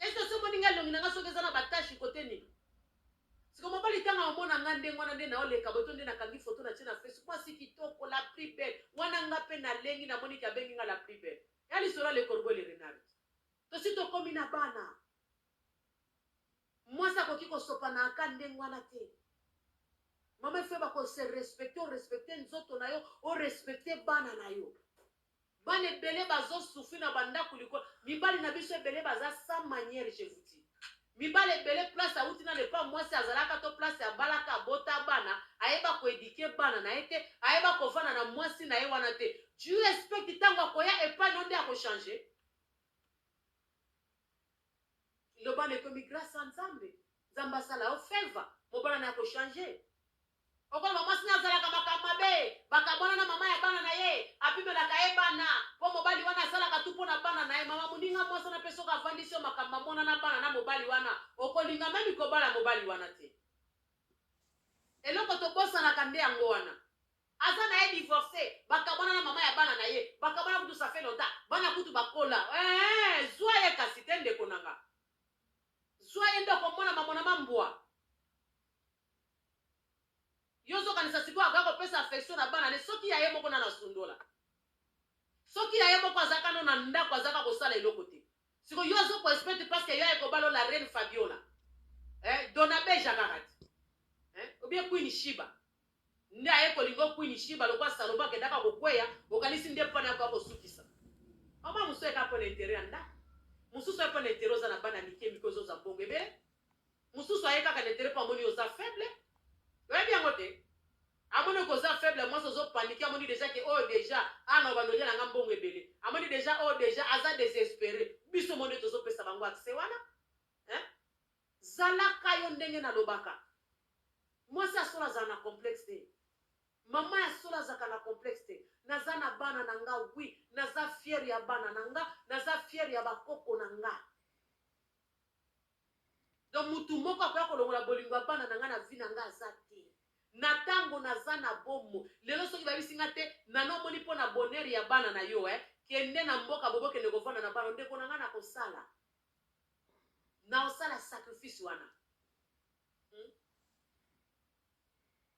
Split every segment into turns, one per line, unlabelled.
Est-ce que somo ninga longi nanga soki eza na ba tâche côté nini? Siko mobali tanga omona nga ndenge wana nde nao leka boto nde nakangi photo na tie na Facebook mwasi kitoko la plus belle wana nga pe na lengi na moni ki abengi nga la plus belle ya lisolo ya le corbeau le renard tosi tokomi na bana mwasi akoki kosopa na aka ndenge wana te mama efeba ko se respecte o respecte nzoto na yo o respecte bana na yo Bana ebele bazo souffrir na ba ndaku likolo mibali na biso ebele baza sans maniere je vous dis mibali ebele place awuti nanu epa muasi azalaka to place abalaka abota bana ayeba ko eduquer bana naye te ayeba kovanda na muasi naye wana te do you expect tango akoya epa no nde ako change loba na ekomi grace ya nzambe nzambe asala yo favor mobala naye ako change Okoloba mwasi naye azalaka makambo mabe, bakabwana na mama ya bana naye, apimelaka ye bana, po mobali wana asalaka tout pona bana naye, maman muninga mwasi wana pe soki avandisi yo makambo amona na bana na mobali wana, okolinga meme kobala mobali wana te. Eloko tobosanaka nde yango wana. Aza naye divorce, bakabwana na mama ya bana naye, bakabwana kutu ça fait longtemps, bana kutu bakola, eeh zua ye kasi te ndeko nanga, zua ye nde okomona mamonama mbwa. Yo ozokanisa sikoyo akoya kopesa affection na bana ne soki ya ye moko nanu asundola? Soki ya ye moko aza kaka nanu na ndaku aza kaka kosala eloko te. Sikoyo yo azo ko expect parce que yo aye kobala yo la reine Fabiola? Eh Dona Beja kaka te eh ou bien Queen Shiba nde aye kolinga yo Queen Shiba lokola Salomon akendaka kokueya okanisi nde pona akoya kosukisa Maman mususu aye kaka pona interet ya ndaku mususu aye pona interet oza na bana mike mike ozoza mbongo ebele mususu aye kaka na internet po amoni oza faible oyebi yango te amoni ko oza faible mwasi ozo panique amoni deja ke oyo deja ana ah, obanda olyela nga mbongo ebele amoni deja oyo oh, deja aza desespere biso monde tozopesa bango accès wana hein? zalaka yo ndenge nalobaka mwasi ya solo azala na complexe te mama ya solo azalaka na complexe te naza na bana na nga wi naza fiere ya bana na nga naza fiere ya bakoko na nga Donc mutu moko akoya kolongola bolingo ya bana na nga na vie na nga aza te. Na tango naza na bomo lelo soki bayebisi nga te Nana omoni mpo na bonheur ya bana na yo eh kende na mboka bobo kende kovanda na bana ndeko na nga nakosala naosala sacrifice wana.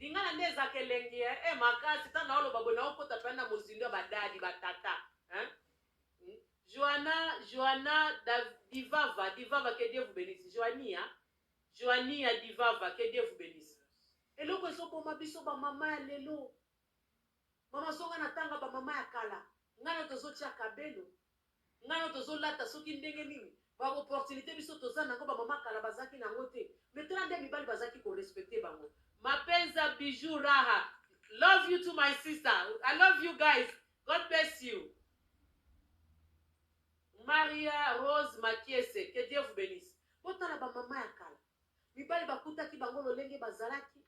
Lingala nde ezaka elengi eh eh makasi tango nao loba boye nao kota pena na mozindo ya ba dady ba tata hein hum Joana Joana da Divava Divava que Dieu vous benisse Joania Joania Divava que Dieu vous benisse eloko ezo boma biso ba maman ya lelo Maman zonga na tanga ba maman ya kala nga nayo tozo tia cabelo nga nayo tozo lata soki ndenge nini ba opportunite biso toza nango ba maman kala bazalaki nango te mais tala nde mibali bazalaki ko respecte bango. Mapenza bijoux raha love you to my sister I love you guys God bless you Maria Rose Makiese que Dieu vous benisse botala ba maman ya kala mibali bakutaki bango lolenge bazalaki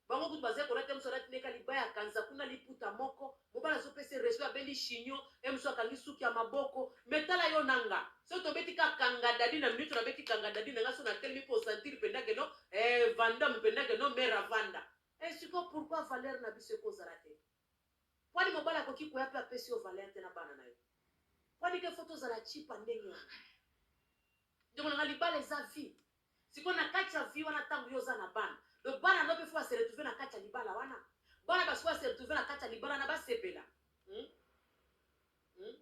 Bango kutu baza kolata ye musu alati ne ka libaya kanza kuna liputa moko mobali azo pesa ye respect abendi chignon ye musu akangi suki ya maboko mais tala yo na nga soki tobeti ka kanga dadi na minutu na beti kanga dadi na nga soki na telemi po sentir penda ke non eh vandam penda ke non mère avanda eh sikoyo pourquoi valeur na biso eko zala te pwani mobali akoki koya pe apesi yo valeur te na bana na yo pwani ke faut tozala chipa ndenge wana ndeko na nga libala eza vie Sikoyo na kati ya vie wana tango yo oza na bana, donc bana no pe faut ba se retrouver na kati ya libala wana? Bana ba sikoyo ba se retrouver na kati ya libala wana ba sepela? Hum? Hum?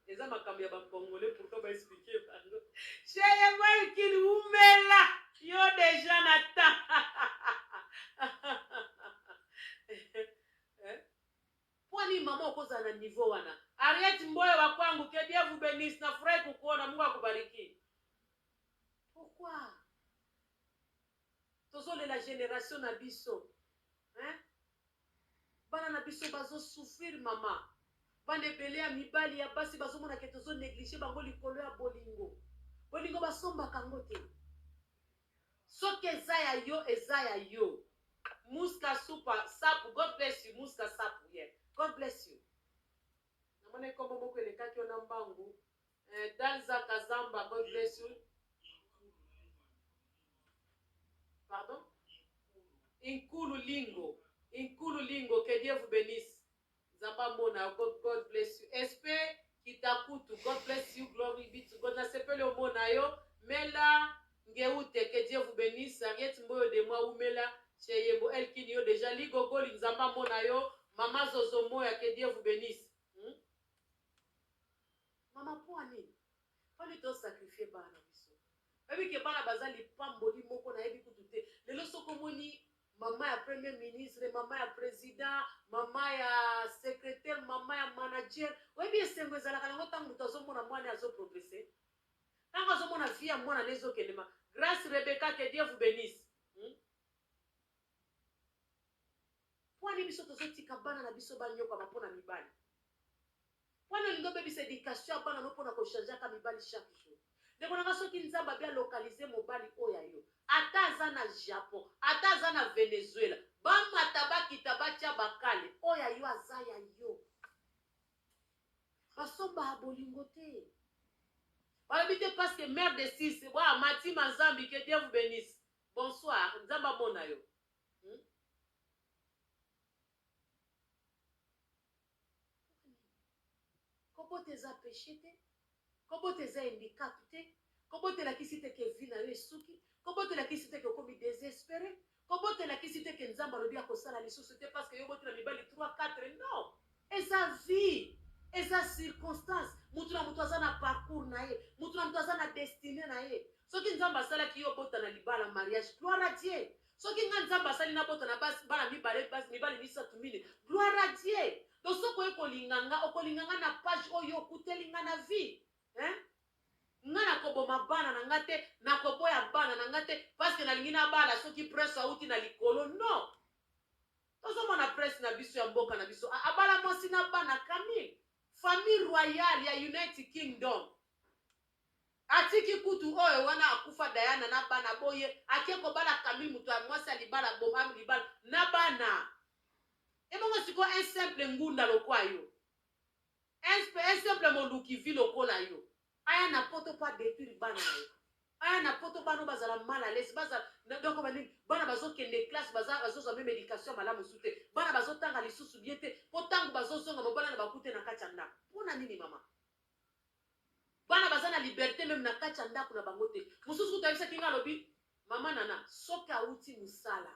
Eza makambo ya ba congolais pourquoi ba expliquer bango? Chez moi kin umela yo deja na na niveau wana. Harriet Mboyo wa kwangu, que Dieu vous benisse, nafurahi kukuona, Mungu akubariki. Pourquoi tozo lela generation na biso hein bana na biso bazo souffrir maman bana ebele ya mibali ya basi bazo mona ke tozo negliger bango likolo ya bolingo bolingo basombaka yango te soki eza ya yo eza ya yo muska supa sapu god bless you muska sapu yeah god bless you namoni kombo moko elekaki yo na mbangu Eh Dalza Kazamba God bless you Pardon Inkulu Lingo Inkulu Lingo que Dieu vous bénisse Nzambe amona yo God, God bless you SP Kitakutu God bless you Glory be to God nasepeli omona yo Mela Ngeute que Dieu vous bénisse Ariette Mboyo de moi Umela chez Yembo Elkin yo déjà Ligogoli Nzambe amona yo Mama Zozo Moya que Dieu vous bénisse Maman pua nini fallait to sacrifier bana na biso bayebi ke bana baza lipamboli moko nayebi kutu te lelo soki omoni maman ya premier ministre maman ya president maman ya secretaire maman ya manager oyebi esengo ezalaka nango ntango moto azomona mwana azo progrese ntango azomona vie ya mwana na ezokendema grace rebecca que dieu vous benisse hmm? pwani biso tozotika bana na biso banyokwama mpo na mibali Pona olingi obebisa education ya bana no pona ko changeaka mibali chaque jour? Ndeko na nga soki nzambe abi a localise mobali oyo ya yo ata aza na japon ata aza na Venezuela ba mata ba kita ba tia ba kale oyo ya yo aza ya yo ba somba bolingo te balobi te parce que mère de six wa mati mazambi que Dieu vous benisse bonsoir nzambe amona yo Pona nini? Kobota eza peche te, kobota eza handicap te, kobota elakisi te que vie na yo esuki, kobota elakisi te que okomi desespere, kobota elakisi te que Nzambe alobi akosala lisusu te parce que yo oboti na mibali trois, quatre non! Eza vie, eza circonstance, mutu na mutu aza na parcours na ye, mutu na mutu aza na destine na ye. Soki Nzambe asalaki yo obota na libala, mariage, gloire à Dieu! soki nga nzambe asali nabota na basi bana mibale basi mibale misato mine gloire a dieu to soki oye kolinga nga okolinga nga na page oyo okuteli nga na vie hein? nga nakoboma bana na nga te nakoboya bana na nga te parceke nalingi nabala soki prince auti na likolo non tozomona prince na biso ya mboka na biso abala mwasi na bana camille famille royale ya united kingdom Atiki kutu oyo wana akufa Diana na bana bo ye ake kobala Camille mutu ya mwasi ya libala aboma libala na bana ebongo sikoyo un simple ngunda lokwa yo un simple moluki vie lokola yo aya na poto po a detruire bana na yo aya na poto bana oyo bazala mal à l'aise bazala na donc balingi bana bazokende classe baza bazozwa meme education ya malamu su te bana bazotanga lisusu bien te mpo ntango bazozonga mobala na bakute na kati ya ndako mpo na nini mama Bana baza na liberte meme na kati ya ndako na bango te. Mosusu kutu ayebisaki nga alobi mama Nana soki awuti mosala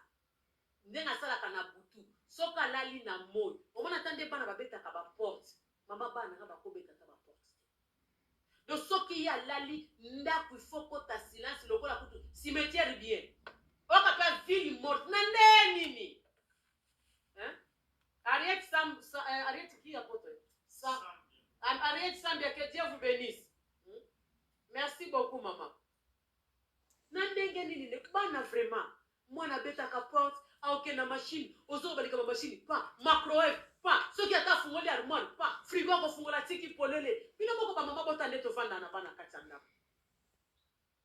ndenge asalaka na butu soki alali na moyi omona ata nde bana babetaka ba porte mama bana nanga bakobeta ata ba porte te. Donc soki ye alali ndako il faut kota silence lokola kutu cimetière bien. Oyoka pe ville morte na ndenge nini? Hein? Harriet Sam, Sa- euh, Harriet qui apôtre Sam, Har- Harriet Sambia, que Dieu vous bénisse. Hmm? Merci beaucoup maman. Na ndenge nini ne- bana vraiment mwana abetaka porte aoke na machine ozo balika ba machine pa macrowave pa soki ata afungoli armoire pa frigo akofungola tiki polele bino moko bamama bota nde tofanda na bana kati ya ndako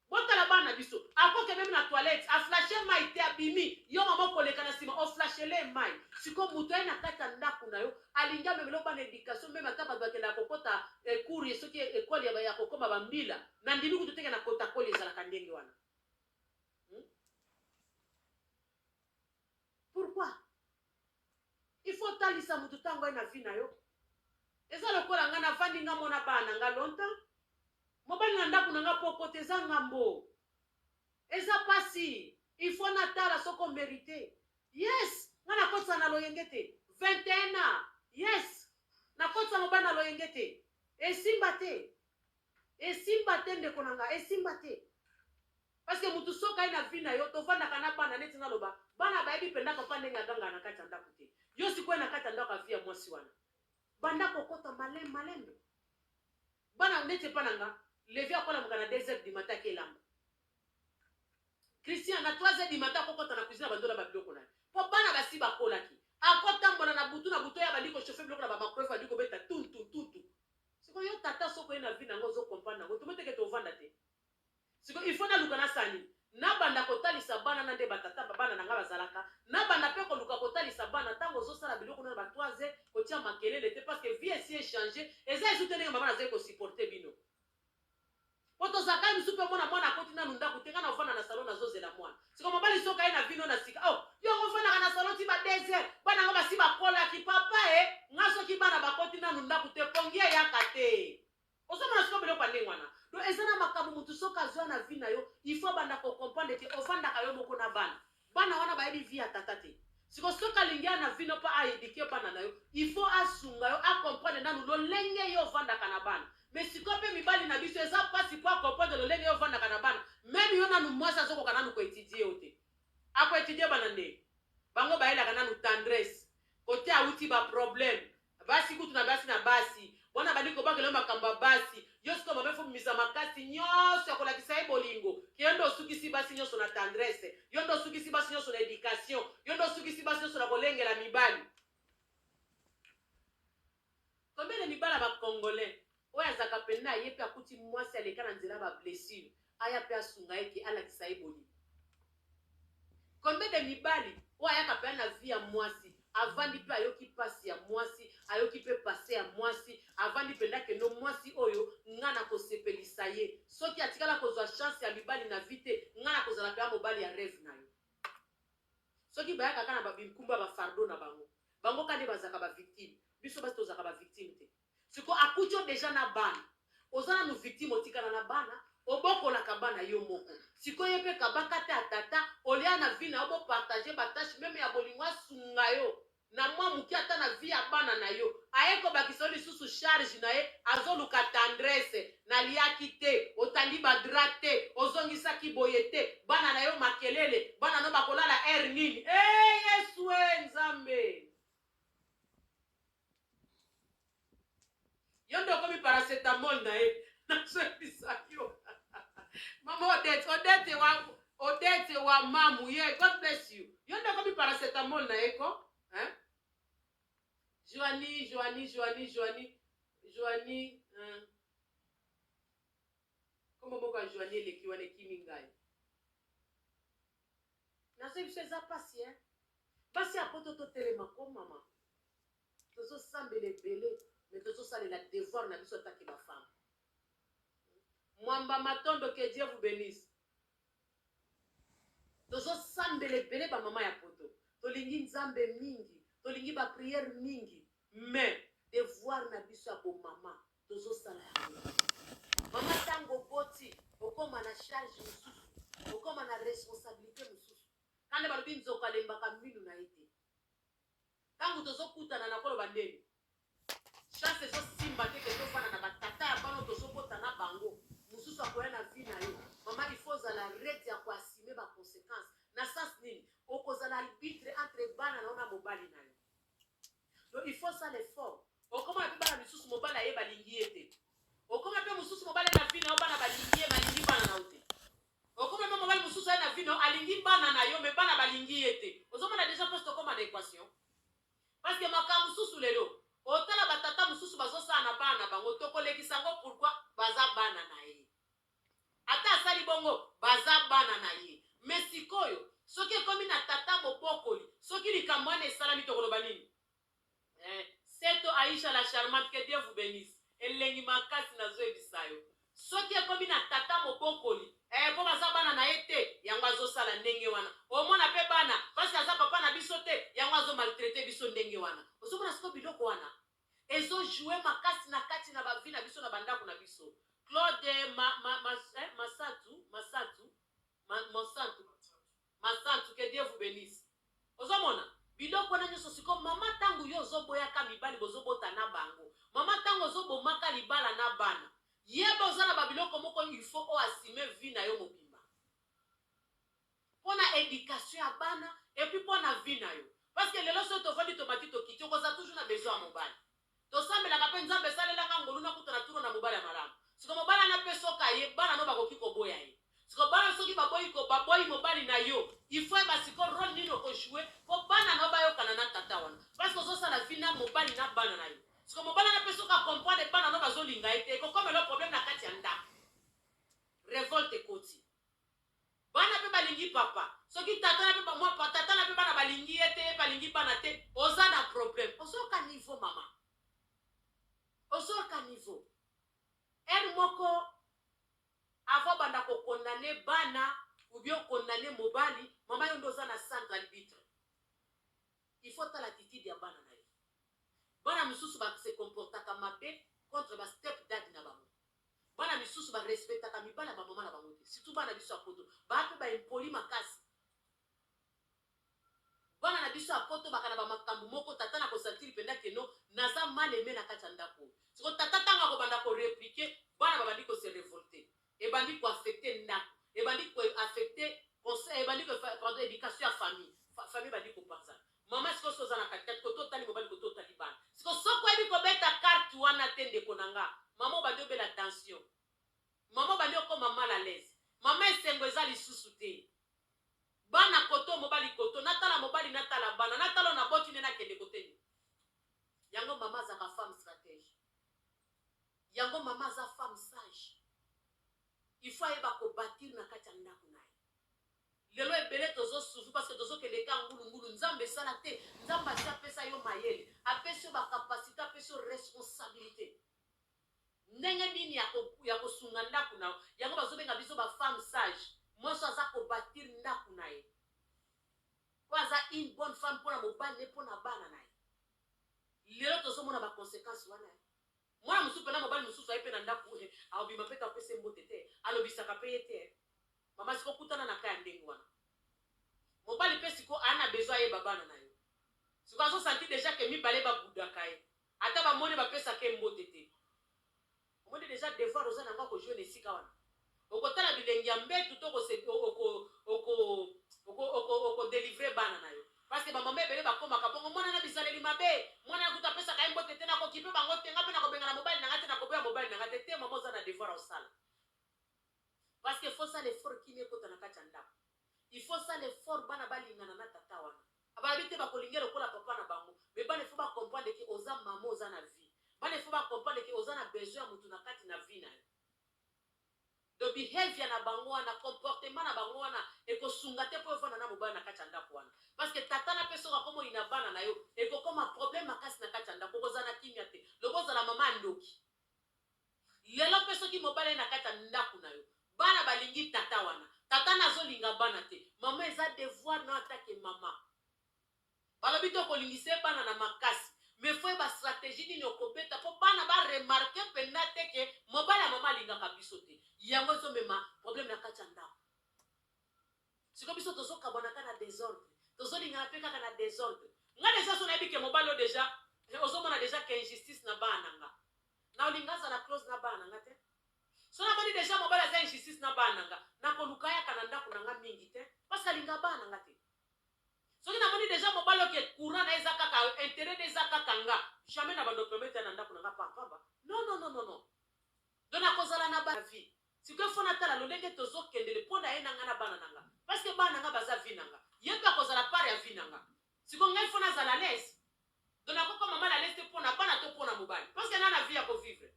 Botala bana na biso. Ako ke meme na toilette a flasher mayi te abimi yo maman okoleka na sima o flashelee mayi. Sikoyo mutu aye na kati ya ndaku na yo alingi amemela yo bana education meme ata batu bakendaka kokota cour ye soki ecole ya ya kokoma ba mbila na ndimi kutu te ke na kotakoli ezalaka ndenge wana hum pourquoi? Il faut otalisa mutu tango aye na vie na yo. Eza lokola nga na vandi nga mona bana na nga longtemps. Mobali na ndaku na nga po kota eza ngambo. Eza pasi. Il faut na tala soki o merite. Yes, nga na kotisa na loyenge te. 21 ans. Yes, na kotisa mobali na loyenge te. Esimba te. Esimba te ndeko na nga esimba te parce que mutu soki aye na vie na yo tovandaka na bana neti naloba bana bayebi penda papa ndenge agangaka na kati ya ndaku te yo sikoyo na kati ya ndaku ya vie ya mwasi wana banda kokota malem malembe bana neti epa na nga levi akolamuka na 2 heures du matin ake elamba Christian na 3 heures du matin akokota na cuisine abandola ba biloko na ye po bana basi bakolaki akotambola na butu na butu ya bandi ko chauffer biloko na ba microwave bandi kobeta tuntuntutu Sikoyo yo tata soki oye na vie nanga ozo comprendre nango tomo te ke tovanda te sikoyo il faut naluka nasala nini nabanda kotalisa bana na nde ba tata ba bana nanga bazalaka nabanda pe koluka kotalisa bana tango ozo sala biloko na ba trois heures kotia makelele te parce que vie esi echange eza esu te ndenge mama nazali ko supporter bino Po tozalaka ye mususu pe omona mwana akoti nanu ndaku te nga na vanda na salon nazo zela mwana sikoyo mobali soki aye na vino na sika oh yo yango ofandaka na salon ti ba deux heures bana nga basi bakolaki papa eh nga soki bana bakoti nanu ndaku te pongi eyaka te ozo mona sikoyo biloko ya ndenge wana donc eza na makambo mutu soki azo ya na vie na yo il faut abanda ko comprendre que ofandaka yo moko na bana Bana wana bayebi vie ya tata te. Siko soki alingi a na vie no po a eduquer bana na yo, il faut asunga yo a comprendre nanu lolenge yo ofandaka na bana. Mais sikoyo pe mibali na biso eza pasi po a comprendre lolenge yo ofandaka na bana. Meme yo nanu mwasi azokoka nanu ko etudier yo te. Ako etudier bana nde? Bango bayelaka nanu tendresse. Kote awuti ba problèmes, Basi kutu na basi na basi wana abandi kobakela yo makambo ya basi yo sikoyo mama ifo bimisa makasi nyonso ya kolakisa ye bolingo ke yo nde osukisi basi nyonso na tendresse yo nde osukisi basi nyonso na education yo nde osukisi basi nyonso na kolengela mibali combien de mibala ba congolais Oyo azalaka mpenza ye mpe akuti mwasi aleka na nzela ya ba blessures, aya mpe asunga ye que alakisa ye bolingo. Combien de mibali oyo ayaka mpenza na vie ya mwasi, avandi mpe ayoki mpasi ya mwasi, ayoki mpe passe ya mwasi, avandi mpenza que no mwasi oyo nga nakosepelisa ye, soki atikala kozua chance ya mibali na vie te, nga nakozala mpenza mobali ya reve na yo. Soki bayaka kaka na ba binkumba ba fardeau na bango, bango kaka nde bazalaka ba victimes, biso basi tozalaka ba victimes te. Sikoyo akuti yo dejà n'a bana oza nanu victime otikala n'a bana obokolaka bana yo moko sikoyo ye pe kabaka te ya tata olia n'a vie n'a yo bo partage ba tache meme ya bolingo asunga yo n'a mua mukie ata n'a vie ya bana n'a yo aye kobakisa yo lisusu charge n'a ye azoluka tendresse naliaki te otandi ba drap te ozongisaki boye te bana n'a yo makelele bana no bakolala heure nini eeh yesuee nzambe Yo nde okomi paracetamol na ye. Nazwebisa yo. Mama Odette, Odette wa Odette wa mamu. Yeah, God bless you. Yo nde okomi paracetamol na ye ko? Hein? Joanie, Joanie, Joanie, Joanie, Joanie, hein? Kombo moko ya Joanie eleki wana ekimi ngai. Nazwebisa eza pasi, hein? Basi ya poto totelema ko mama. Tozo sambela ebele mais tozo salela devoir na biso en tant que ba femmes. Mwamba Matondo que Dieu vous benisse. Tozo sambela ebele ba maman ya poto. Tolingi Nzambe mingi, tolingi ba prières mingi mais devoir na biso ya bo maman tozo sala yango. Maman tango boti okoma na charge mosusu, okoma na responsabilité mosusu. Kanda balobi nzoko alembaka minu na ye te. Tangu tozo kutana nako loba ndeni? Chance ezo simba te que to fanda na ba tata ya bana oyo tozo bota na bango, mususu akoya na vie nayo. Maman il faut ozala rete ya ko assumer ba consequence na sens nini? Oko zala albitre entre bana nayo na mobali nayo donc il faut osala effort okomona pe bana misusu mobali aye balingi ye te, okoma pe mususu mobali aye na vie nayo bana balingi ye balingi bana nayo te. Okomema mobali mususu aye na vie nayo alingi bana nayo mais bana balingi ye te ozomona dejà place tokoma na equation parce que makambo mususu lelo otala ba tata mususu bazosala na bana na bango tokolekisa yango pourquoi baza bana naye ata asali bongo baza bana naye mais sikoyo soki ekomi na tata mobokoli soki likambo wana esalami tokoloba nini Eeh seto Aïcha la charmante que Dieu vous benisse elengi makasi nazo yebisa yo soki ekomi na tata mobokoli eeh po baza bana na ye te yango azo sala ndenge wana omona pe bana parce que aza papa na biso te yango azo maltraite biso ndenge wana ozo mona sikoyo biloko wana ezo joue makasi na kati na ba vie na biso na ba ndaku na biso Claude ma ma ma eh, Masatu Masatu Ma, mosantu, masantu, que Dieu vous benisse. Ozo mona? Biloko wana nyoso sikoyo mama tangu yo ozo boya ka mibali bozo bota na bango, mama tangu ozo boma ka libala na bana, yeba oza na ba biloko moko il faut o assume vie na yo mobimba. Pona education ya bana et puis pona vie na yo. Parce que lelo soki tovandi tomati tokiti okozala toujours na besoin ya mobali. Tosambelaka pe Nzambe salela nga ngolu na kutana tuna na mobali ya malamu sikoyo mobali wana pe soki aye bana no bakoki koboya ye sikoyo bana soki baboyi ko baboyi mobali na yo il faut yeba sikoyo role nini oko joue po bana no bayokana na tata wana parceque ozo sala vie na mobali na bana na yo sikoyo mobali wana pe soki a comprendre bana no bazo linga ye te ekokomela yo problème na kati ya ndaku revolte ekoti. Bana pe balingi papa. Soki tata na pe ba mwa pa tata na pe bana balingi ye te ye pe alingi bana te oza na problème ozoyoka niveau maman ozoyoka niveau heure moko avant obanda ko condamne bana ou bien o condamne mobali maman yo nde oza na centre arbitre il faut otala attitude ya bana na yo bana misusu ba se comportaka mabe contre ba step dad na bango Bana misusu ba respectaka mibali ya ba maman na bango te surtout bana na biso ya poto ba pe ba impoli makasi bana na biso ya poto baka na ba makambu moko tata na ko sentir penda que no naza mal aime na kati ya ndaku oyo siko tata tango ako banda ko replique bana ba bandi ko se revolte ebandi ko affecte ndaku ebandi ko affecte conseil ebandi ko pardon education ya famille famille ebandi ko panzana Maman sikoyo soki oza na kati kati koto otali mobali koto otali bana sikoyo soki oyebi kobeta carte wana te ndeko na nga maman obandi obela tension maman obandi okoma mal à l'aise maman esengo eza lisusu te bana koto mobali koto natala mobali natala bana natala na boti nde nakende koteni yango maman azaka femme stratège yango maman aza femme sage il faut ayeba kobatir na kati ya ndako na ye Lelo ebele tozo souffrir parce que tozo kende kka ngulu ngulu nzambe sala te nzambe asi apesa yo mayele apesi yo ba capacite apesi yo responsabilite ndenge nini yako yako sunga ndaku na yo yango bazo benga biso ba femme sage mwasi aza ko batir ndaku na ye po aza une bonne femme pona mobali ne pona bana na ye lelo tozo mona ba consequence wana Mwana mosusu pe na mobali mosusu aye pe na ndaku he akobima pe te apesa ye mbote te alobisaka pe ye te he mama siko kutana na cas ya ndenge wana mobali pe siko aya na besoin ayeba bana na yo siko azo sentir dejà ke mibale ba boudaka ye ata ba moni ba pesaka ye mbote te omoni dejà devoir oza na ngo ako jouer na esika wana Okotala bilengi ya mbetu to oko se oko oko oko oko oko delivrer bana na yo parce que ba maman ebele bakomaka bongo mwana na bizaleli mabe mwana na kutu apesaka ye mbote te nako kipe bango te nga pe nako bengana mobali na nga te nako boya mobali na nga te te maman oza na devoir ya osala parce que faut sala effort kimia ekota na kati ya ndako il faut sala effort bana balingana na tata wana abalabi te bakolinga lokola papa na bango mais bana il faut ba comprendre que oza maman oza na vie bana il faut ba comprendre que oza na besoin ya mutu na kati na vie na yo Donc behavior na bango wana, comportement na bango wana ekosunga te po ovanda na mobali na kati ya ndaku wana. Parce que tata na pe soki akomi oyina bana na yo, ekokoma problème makasi na kati ya ndaku, bokozala na kimia te. Loba ozala mama ya ndoki. Lelo pe soki mobali aye na kati ya ndaku na yo, bana balingi tata wana, tata na azolinga bana te, mama eza devoir na yo ata ke mama. Balobi te okolingise bana na makasi mais faut yeba strategie nini okobeta po bana ba remarquer penza te que mobali ya maman alingaka biso te yango ezo mema problème na kati ya ndaku sikoyo biso tozo kabwana ka na desordre tozo lingana pe kaka na desordre nga deja so nayebi ke mobali o deja eh, ozo mona deja ke injustice na bana na nga na olinga azala close na bana na nga te so namoni deja mobali aza injustice na bana na nga nakoluka yaka na ndako na nga mingi te parce alinga bana na nga te Soki na moni dejà mobali oyo ke courant naye eza kaka yo, interet naye eza kaka nga, jamais na bando permettre aya na ndaku na nga pa pamba, non non non non non donc na kozala na ba vie sikoyo il faut na tala lolenge tozo kende le pona ye na nga na bana na nga parce que bana na nga baza vie na nga ye pe akozala part ya vie na nga sikoyo nga il faut na zala alaise donc na ko koma mal alaise te pona bana to pona mobali parce que na na vie ya ko vivre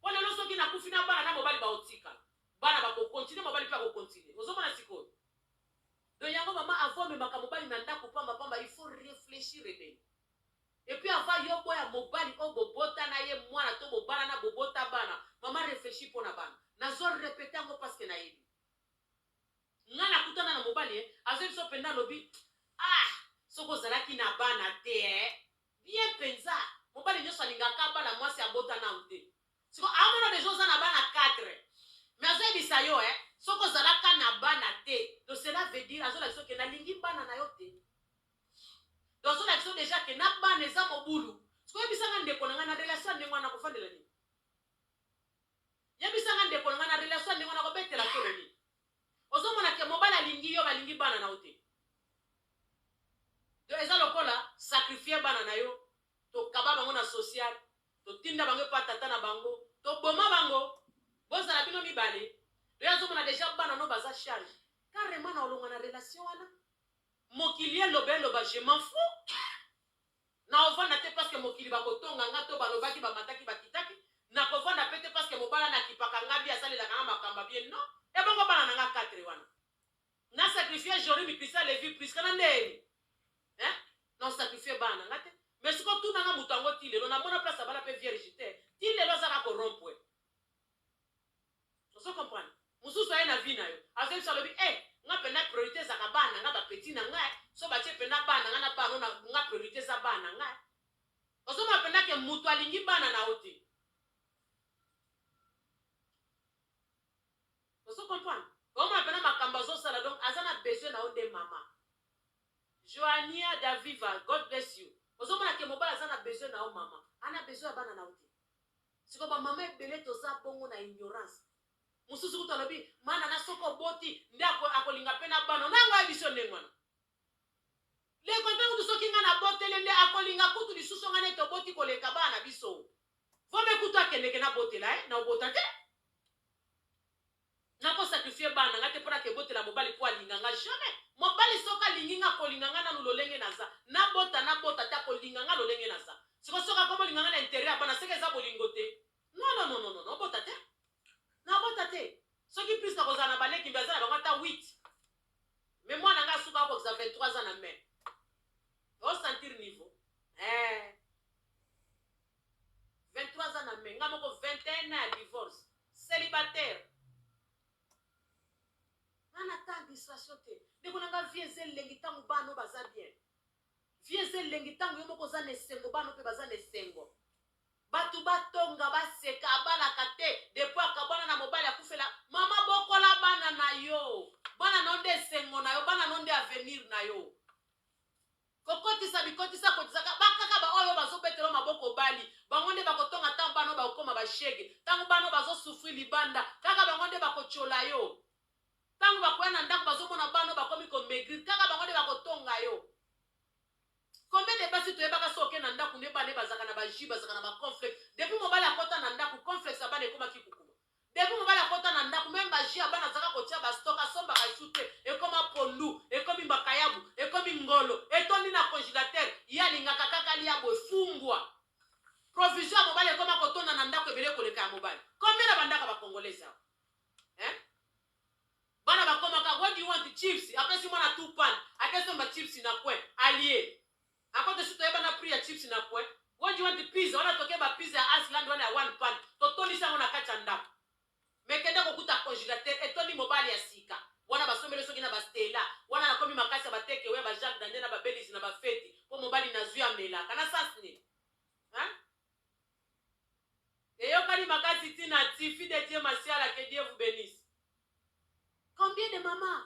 po lelo soki na kufi na bana na mobali ba otika bana ba ko continuer mobali pe ako continuer ozo mona sikoyo Donc yango maman avant omemaka mobali na ndaku pamba pamba il faut reflechir ebele et puis avant yo oboya mobali oyo bobota na ye mwana to bobalana bobota bana maman reflechis mpo na bana nazo repeter yango parce que nayebi nga nakutana na mobali eh azo biso mpenza alobi ah soki ozalaki na bana te eh Bien penza, mobali nioso alinga ka bana muasi abota nanu te sikoyo amona deja oza na bana quatre mais azo yebisa yo eh soki ozala ka na bana te donc cela veut dire azo lakisa yo ke na lingi bana na yo te donc azo lakisa yo deja ke na bana eza mobulu sikoyo yebisa nga ndeko na nga na relation ndenge wana kofandela nini yebisa nga ndeko na nga na relation ndenge wana kobetela tolo nini Ozo mona que mobali alingi yo balingi bana na yo te donc eza lokola sacrifier bana na yo tokaba bango na social totinda bango epa tata na bango toboma bango bozala bino mibale to ye azomona deja bana no baza charge carrement na olonga na relation wana mokili eloba eloba je m'en fous Nakovanda te parceque mokili bakotonga nga to balobaki bamataki bakitaki, nakovanda pe te parceque mobala na kipaka nga bien asalelaka nga makambo ya bien non ebongo bana na nga quatre wana na sacrifie Jory mikisa Levi Prisca na ndeni hein na sacrifie bana na nga te mais siko tuna nga moto yango ti lelo na mona place abala pe vierge te ti lelo aza ka ko rompwe Ozo comprendre? Mususu aye na vie na yo azo yebisa alobi eh nga penda priorite ezalaka bana na nga ba petit na nga eh so batie penda bana na nga na bana oyo nga priorite eza bana na nga eh ozo mona penda ke mutu alingi bana na yo te ozo comprendre? Ozo mona penda makambo azo sala donc aza na besoin na yo nde mama Joania Daviva God bless you ozo mona ke mobali aza na besoin na yo mama ana besoin ya bana na yo te Sikoyo ba maman ebele toza bongo na ignorance mususu kutu alobi mana na soki oboti nde ako, akolinga pe na bana nango ayebi so ndenge wana leko mpe kutu soki nga nabotele nde akolinga kutu lisusu nga nde toboti koleka bana na biso vome kutu akendeke nabotela ye na obota te Nako sacrifier bana na nga te po na ke botela mobali po alinga nga jamais mobali soki alingi nga akolinga nga nanu lolenge naza na bota na bota te akolinga nga lolenge naza sikoyo soki akomi olinga nga na interet ya bana seke eza bolingo te nononononono obota te na bota te soki plus nako zala na ba leki mbe aza na bango ata 8 mais mwana nga asuka akokisa 23 ans na main o sentir niveau eh 23 ans na mai nga moko 21 ans ya divorce celibataire nga na temps distraction te ndeko na nga vie eza elengi ntango bana baza bien vie eza elengi ntango yo moko oza na esengo bana mpe baza na esengo bato batonga baseka abalaka te depo akabwana na mobali akufela mama bokola bana na yo bana na yo nde esengo na yo bana na yo nde avenir na yo Kokotisa bikotisa kotisaka ba kaka ba oyo bazo betelo maboko bali bango nde bako tonga tango bana oyo bako koma ba chegue tango bana oyo bazo souffrir libanda kaka bango nde bako tshola yo tango bakoya na ndako bazo mona bana oyo bakomi ko maigrir kaka bango nde bako tonga yo combien de basi toyebaka so oke na ndako nde bana bazaka na ba jus bazaka na ba conflex depuis mobali akota na ndako conflex ya bana ekomaki kokuma Depuis mobali akota na ndaku meme ba jus ya bana azalaka kotia ba stock asombaka jus te ekoma pondu ekomi mbakayabu ekomi ngolo etondi na congilateur ye alingaka kaka alia boye fumbua provision ya mobali ekoma kotonda na ndaku ebele koleka ya mobali combien na bandaka ba congolais awa hein bana bakomaka what do you want chips apesi mwana tout pan akesomba chips na coin alie A cote esi toyeba na prix ya chips na coin What do you want the pizza wana toke ba pizza ya Asland wana ya one pan totondisi yango na kati ya ndaku mais kende kokuta congelateur etondi mobali ya sika wana basombeli yo soki na ba Stella wana na komi makasi ya ba take away ya ba Jacques Daniel na ba Belize na ba feti po mobali nazui amelaka na sens nini hein eyokani makasi ti na ti fille de Dieu Masiala que Dieu vous benisse. Combien de maman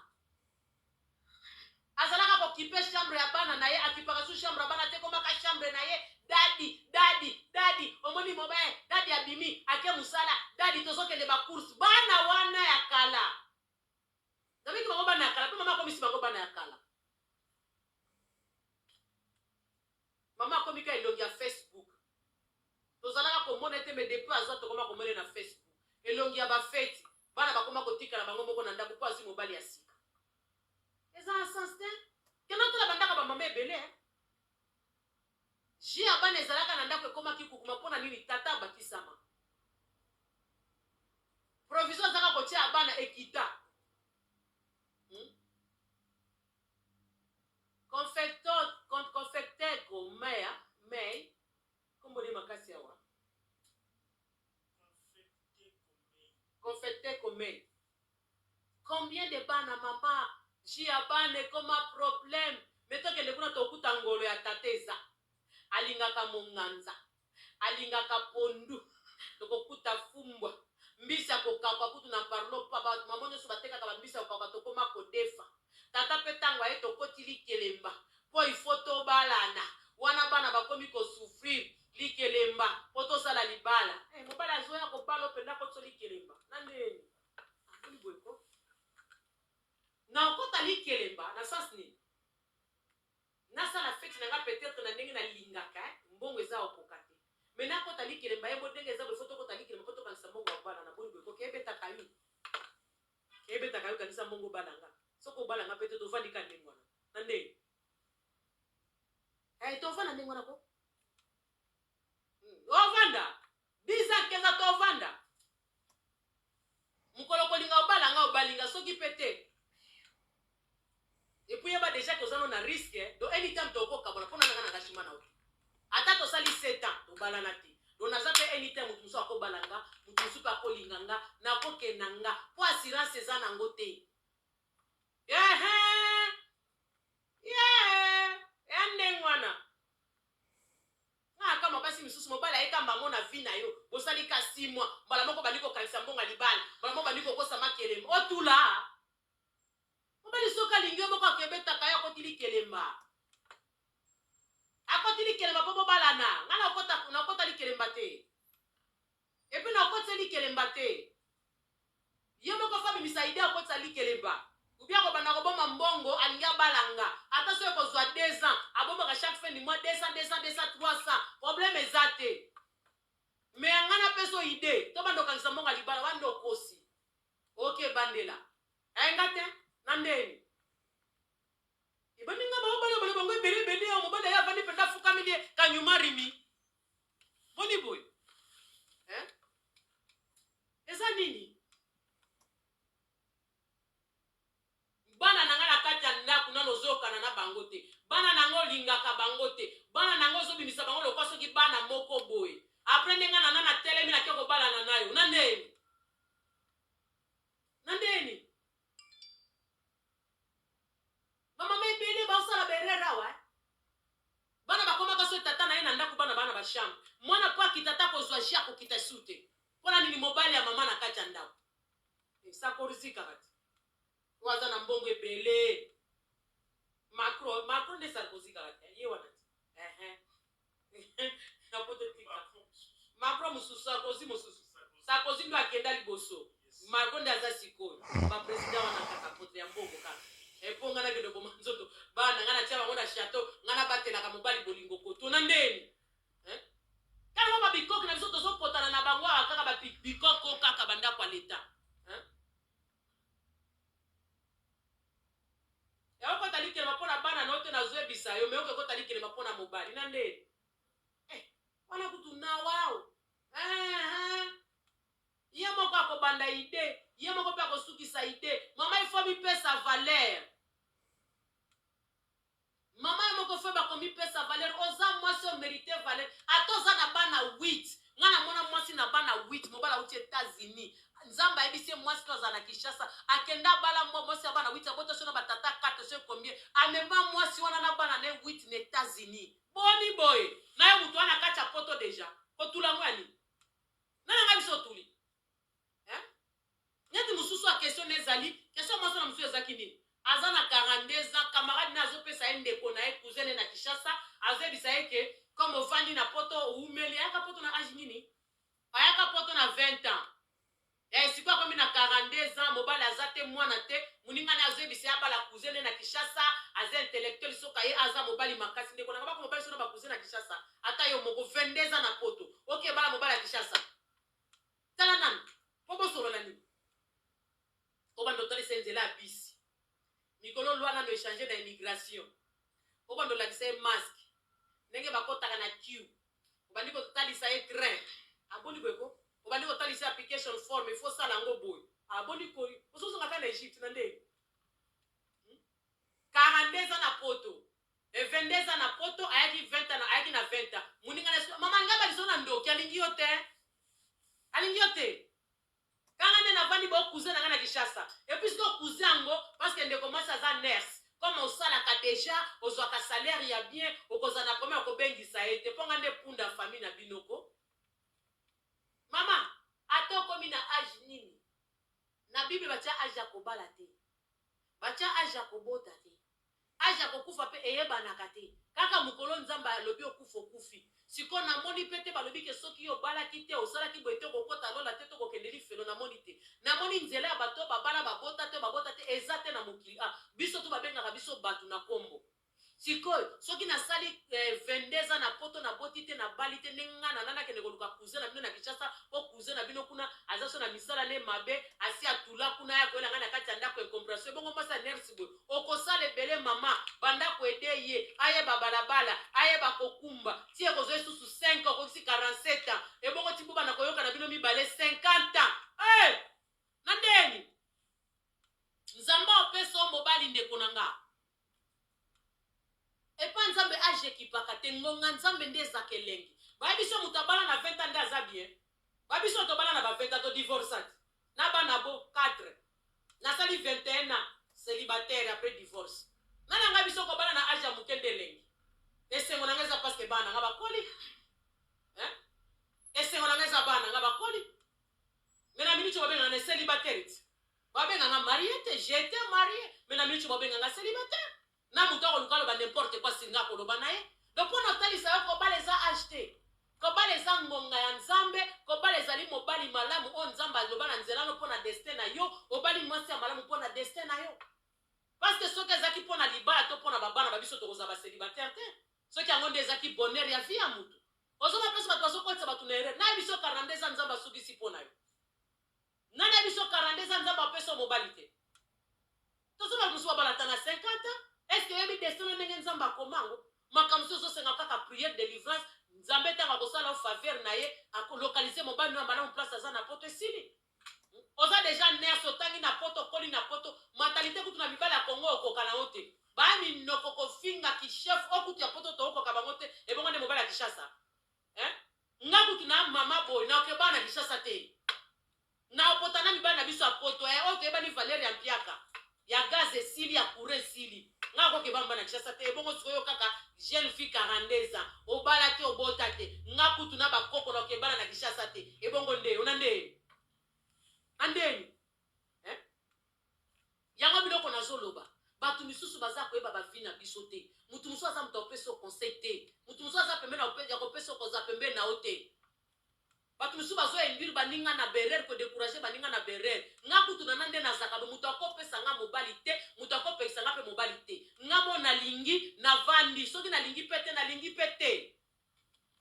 azalaka ko kipe chambre ya bana na ye akipaka su chambre ya bana te komaka chambre na ye dadi dadi dadi omoni mobe dadi abimi ake musala dadi tozokende ba course bana wana ya kala nabiki bango bana ya kala pe mama akomisi bango bana ya kala Maman akomi kaka elongi ya Facebook tozalaka komona ye te mais depuis azua tokoma komona ye na Facebook elongi ya ba feti bana bakoma kotikala bango moko na ndaku po azui mobali ya sika eza na sens te kende otala ba ndako ya ba maman ebele hein Jus ya bana ezalaka na ndako ekomaki kukuma pona nini tata abakisama provision azaka kotia ya bana ekita hmm? Confector, confecteco, maya, may, kombo nde makasi awa. Confecteco, may. Combien de bana mama ji ya bana ekoma problème mais tokende kuna tokuta ngolo ya tata eza alingaka monganza Alingaka pondu. Tokokuta fumbwa. Mbisi ya kokauka kutu na parlo pa ba maman nionso batekaka ba mbisi ya kokauka tokoma kodefa. Tata pe tango aye tokoti likelemba po il faut tobalana. Wana bana bakomi ko souffrir likelemba po tosala libala. Eh mobali azoya kobala yo penza akotisi yo likelemba. Na neni? Aboni boye ko. Na okota likelemba na sens nini? Nasala feti na nga peut etre na ndenge na lingaka eh mbongo eza o koka te mais na kota likelemba eh bo denge eza boye faut to kota likelemba po to kangisa mbongo ya bana na boni boye ko ke ebetaka yo ke ebetaka yo kangisa mbongo obala nga soki obala nga peut etre to vandi ka ndenge wana na nde eh to vanda ndenge wana ko hmm. o vanda 10 ans 15 ans to vanda mokolo okolinga obala nga obali nga soki mpe te epuis yeba deja ke oza no na riske do anytime tokokabola mpona nanga na gashima na oki ata tosali 7 ans tobalana te do naza mpe anytime moto mosusu akobala nga moto mosusu mpe akolinga nga nakokenda nga mpo assurance eza nango te ehe ye ya ndenge wana Nga na kamwa basi misusu mobali aye kamba yango na vie na yo bosali ka six mois mbala moko obandi kokangisa mbonga libala mbala moko obandi kokosa makelem otulaa mobali soki alingi yo boko akebetaka yo akoti likelemba akoti likelemba mpo bobalana nga nakota likelemba te Et puis na kotise likelemba te. Ye moko faut abimisa idee akotisa likelemba. Ou bien akobanda kobomba mbongo alingi abala nga. Ata soki ekozua deux ans, abombaka chaque fin du mois 200, 200, 200, 300. Problème eza te. Mais nga napesa yo idee, tobanda kokangisa mbongo ya libala wana nde okosi. Ok bandela. Eh nga te, na ndeni? Ebandi nga baobala bala bango ebele ebele, mobali aye avandi penza afukameli ye, kanyuma rimi. boni boye eh? eza nini bana na ngai na kati ya ndako nano ozoyokana na bango te bana na ngai olingaka bango te bana na ngai ozobimisa bango lokwa soki bana moko boye apres ndenge nana natelemi nake kobalana nayo na ndeni na ndeni Ba mama ebele bao sala ba erreur awa hein. Bana bakomaka soki tata na ye na ndaku bana bana ba chambre. Mwana po akita ata kozua jus akokita su te. Pona nini mobali ya mama na kati ya ndaku. Esakorzi kaka te. Oyo aza na mbongo ebele. Macro, Macro nde Sarkozy kaka te. Ye wana te. Eheh. na poto tika macro mosusu sarkozy mosusu sarkozy ndo akenda liboso marco nde aza sikoyo bapresident wana kaka poto ya mbongo kaka epo nga nakende oboma nzoto bana nga natya bango na chateau nga nabatelaka mobali bolingo kotuna ndeni ntango babikoki na biso tozopotana na bango awa kaka babikoko kaka bandako ya leta Ya okota likelema pona bana na yo te nazo yebisa yo mais oke kota likelema pona mobali na nde eh wana kutu na wao eeh ye moko akobanda ide ye moko pe akosukisa ide mama il faut mipesa valeur Maman yo moko feu bakomi pesa valeur oza mwasi o merite valeur ata oza na bana huit nga na mona mwasi na bana huit mobali awuti etats unis nzambe ayebisi ye mwasi no azala na kinshasa akende abala mwa mwasi ya bana huit abota so na batata quatre so ekombie amema mwasi wana na bana ne huit na etats unis boni boye nayo mutu wana kati ya poto deja kotula ngo ya nini nana nga biso otuli hein neti mususu a question ne ezali question mwasi wana mususu ezaki nini aza na 42 ans camarade naye azo pesa ye ndeko naye cousin naye na Kinshasa azo yebisa ye ke comme ovandi na poto owumeli ayaka poto na age nini ayaka poto na 20 ans eh sikoyo akomi na 42 ans mobali aza te mwana te muninga naye azo yebisa ye abala cousin naye na Kinshasa aza intellectuel soka ye aza mobali makasi ndeko na kabako mobali sona ba cousin na Kinshasa ata yo moko 22 ans na poto oke bala mobali ya Kinshasa Tala nanu po bosolola nini? Obanda otalisa ye nzela ya bisi mikolo loi nanu echange na immigration obanda olakisa ye masque ndenge bakotaka na kiu obandi kotalisa ye train aboni boye ko obandi kotalisa ye application form il faut sala yango boye aboni koyi ozozonga kaka na Egypte na ndenge 42 ans na poto Eh 22 ans na poto ayaki 20 ans ayaki na 20 ans muninga na escroc maman ngaba liso na ndoki alingi yo te alingi yo te kanga nde navandi bo cousin na nga na Kinshasa et puis siko cousin yango parce que ndeko mwasi aza nurse comme osalaka deja ozwaka salaire ya bien okozala na problème ya kobengisa ye te mpo nga nde punda famille na bino ko mama ata okomi na age nini na bible batya age ya kobala te batya age ya kobota te Age ya kokufa pe eyebanaka te. Kaka mokolo Nzambe alobi okufa okufi. Sikoyo namoni pe te balobi ke soki yo obalaki te, osalaki boye te okokota lola te to kokende lifelo namoni te. Namoni nzela ya bato oyo babala babota te oyo babota te eza te na mokili awa. Biso tout babengaka biso bato na kombo. Sikoyo soki nasali 22 ans na poto naboti te nabali te ndenge nga nala nakende koluka cousin na bino na Kinshasa po cousin na bino kuna aza so na misala naye mabe asi atula kuna aya koyela nga na kati ya ndaku incomprehension ebongo mwasi ya nurse boye Okosala ebele maman banda ko aider ye ayeba balabala ayeba kokumba ti ekozwa ye susu 5 ans okokisi 47 ans ebongo ti bobanda koyoka na bino mibale 50 ans eh! na ndeni nzambe opesa yo mobali ndeko na nga epa nzambe age ekipaka te ngonga nzambe nde ezaka elengi bayebi so moto abala na 20 ans nde aza bien Ba biso tobala na ba 20 ans to divorcat na bana bo quatre nasali 21 ans celibataire après divorce nga na nga biso kobala na age ya muke nde elengi esengo na nga eza parce que bana nga bakoli hein esengo na nga eza bana nga bakoli mais na minute babenga na celibataire babenga nga mariette j'étais mariée mais na minute babenga nga celibataire Na mutu akoluka aloba n'importe quoi surga akoloba na ye donc pona otalisa yo kobala eza age te kobala eza ngonga ya nzambe kobala ezali mobali malamu oyo nzambe aloba na nzela no pona destin na yo obali mwasi ya malamu pona destin na yo parce que soki ezaki pona libala to pona babana babiso tokozala baselibataire te soki yango nde ezaki bonheur ya vie ya mutu ozoma place bato bazokotisa bato na erreur nayebi so karnande eza nzambe asukisi mpo na yo Nani ya biso 42 ans nzambe apesa yo mobali te tozo batu mususu babala ata na 50 ans est ce que oyebi destin na ndenge nzambe akoma ngo makambo mususu ozosenga kaka prière delivrance nzambe ntango akosala yo faveur na ye akolokalize mobali no ya malamu place aza na poto esili oza deja nurse otangi na poto okoli na poto mentalite kutu na mibali ya kongo okoka na yo te baminoko kofinga kishef o kutu ya poto tokokoka bango te ebongo nde mobali ya kishasa hein nga kutu na maman boye na oke bana Kinshasa te na opota na mibali na biso ya poto eh oyo toyebani valeur ya mpiaka ya gaz esili ya courant esili nga ko keba mba na Kinshasa te ebongo sikoyo kaka jeune fille 42 ans obala te obota te nga kutu na bakoko na oke bana na Kinshasa te ebongo nde ona nde andeni Yango biloko nazo loba batu misusu baza koyeba ba vie na biso te mutu mususu aza mutu ya kopesa yo conseil te mutu mususu aza pembeni ya kope- ya kopesa yo koza pembeni na yo te batu misusu bazo induire baninga na berer ko decourager baninga na berer nga kutu nana nde nazaka bo mutu akopesa nga mobali te mutu akopekisa nga pe mobali te nga mo nalingi navandi soki nalingi pe te nalingi pe te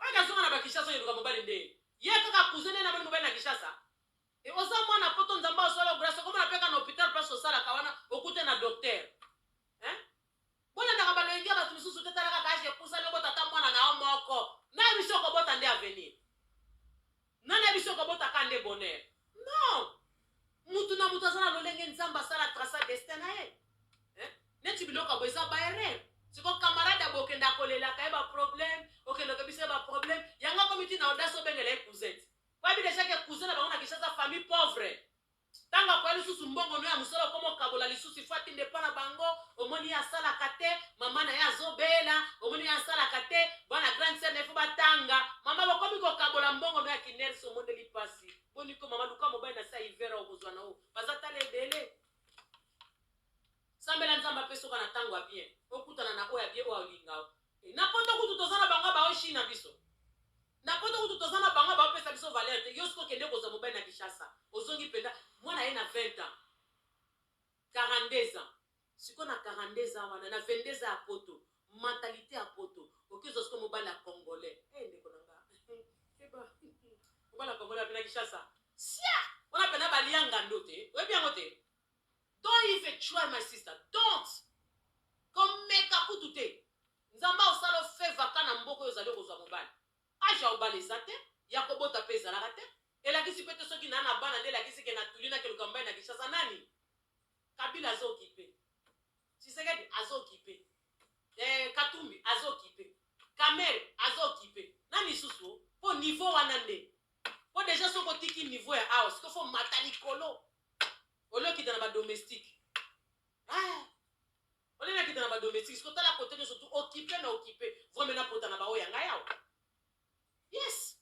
oyo nazonga na ba Kinshasa oyo eluka mobali nde ye kaka cousin nde namoni mobali na Kinshasa Et oza mwana poto nzambe azwa yo grace okomona pe kaka na hopital place osalaka wana okute na docteur hein bolandaka baloyenge ya bato mosusu te tala kaka age epusani obota ata mwana na yo moko na biso okobota nde avenir nani ya biso okobota ka nde bonheur non mutu na mutu aza na lolenge nzambe asala traça destin na ye hein? neti biloko abo eza baerreur siko camarade abo okende akolelaka ye baproblème okende okebisa ye baproblème yango akomi ti na audace obengela ye cousette Bayebi dejà que cousin na bango na Kinshasa famille pauvre. Tango akoya lisusu mbongo no ya musala okoma okabola lisusu il faut atinda epa na bango omoni ye asalaka te maman na ye azo bela omoni ye asalaka te bana grande sœur na ye faut batanga maman bokomi kokabola mbongo no ya kinersi omoneli pasi boni ko maman luka mobali na se ya hiver okozwa na yo baza tala ebele Sambela nzambe apesa oka na tango ya bien okutana na oyo ya bien oyo alinga yo et na poto kutu toza na bango bao shina biso na poto kutu toza na bango bao pesa biso valeur te yo siko kende kozwa mobali na kishasa ozongi penda mwana ye na 20 ans 42 ans siko na 42 ans wana na 22 ans ya poto mentalite ya poto okezwa siko mobali ya congolais eh hey, ndeko na nga mobali ya congolais apena kishasa sia wana pena balia ngando te oyebi yango te Don't even try my sister don't komeka kutu te nzambe akosala yo favor ka na mboka oyo ozali okozwa mobali age ya kobala eza te ya kobota mpe ezalaka te elakisi mpe te soki naa na bana nde elakisi ke na tuli na keluka mobali na kinshasa nani kabila azo okipe tshisekedi azo okipe eh, katumbi azo okipe kamere azo okipe na misusu mpo niveau wana nde mpo deja soki otiki niveau ya awa sikoyo fo mata likolo Ole okita na ba domestique. Ah! Ole na kita na ba domestique. Siko tala kote nyoso tu occupe na occupe. Vreme na pota na ba oya ngai awa. Yes!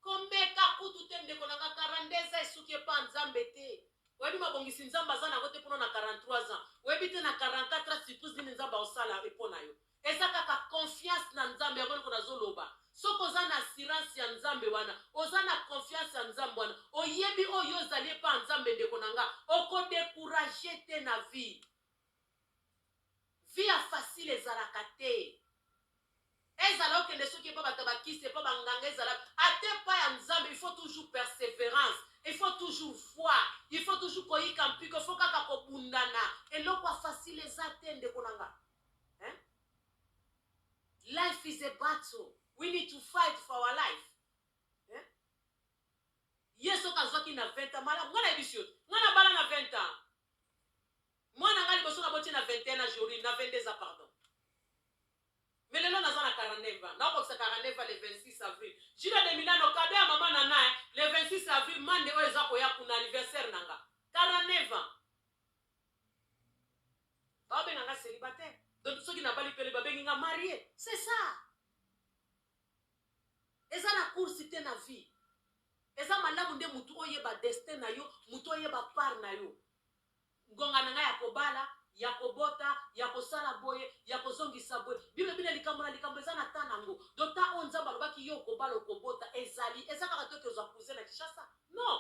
Komeka kutu te ndeko na nga 42 ans esuki epa nzambe te. Oyebi mabongisi nzambe aza na yango te pona na 43 ans. Oyebi te na 44 ans surprise nini nzambe aosala epo na yo. Eza kaka confiance na nzambe yango eloko nazo loba soki oza na assurance ya nzambe wana oza na confiance ya nzambe wana oyebi oyo ozali epa nzambe ndeko na nga oko decourage te na vie vie ya facile ezalaka te ezala okende soki epa bato bakisi epa banganga ezala ata epa ya nzambe il faut toujours perseverance il faut toujours foi il faut toujours koyika mpiko il faut kaka kobundana eloko ya facile eza te ndeko na nga hein life is a battle we need to fight for our life hein ye soki azwaki na 20 ans malamu nga nayebisi yo nga nabala na 20 ans mwana nga liboso naboti na 21 ans jorine na 22 ans pardon mais lelo naza na 49 ans nakokisa 49 ans le 26 avril jina de milano kado ya mama na naye le 26 avril mande oyo eza koya kuna anniversaire na nga 49 ans Ba benga nga celibataire. Donc soki na bali pele ba bengi nga marie. C'est ça. Eza na course te na vie. Eza malamu nde mutu oyeba destin na yo, mutu oyeba part na yo. Ngonga na nga ya kobala, ya kobota, ya kosala boye, ya kozongisa boye. Bino bina likambo na likambo eza na temps na ngo. Donc temps oyo Nzambe alobaki yo okobala, okobota ezali. Eza kaka toke ozwa cousin na Kinshasa? Non.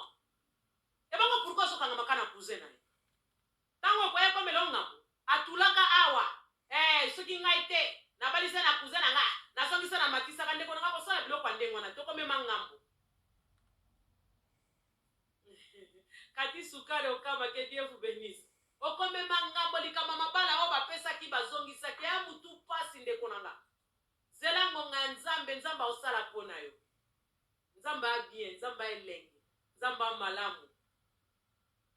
Ebongo pourquoi ozo kangama ka na cousin na yo? Tango okoya ekomela yo ngambo? Atulaka awa eh soki ngai te nabali se na cousin na nga nazongi se na matisaka ndeko na nga kosala biloko ya ndenge wana toko mema ngambo Cathy sukari okama que Dieu vous benisse okomema ngambo likambo ya mabala oyo bapesaki bazongisaki eh mutu pasi ndeko na nga Zela ngonga ya nzambe nzambe akosala pona yo nzambe a bien nzambe a elengi nzambe a malamu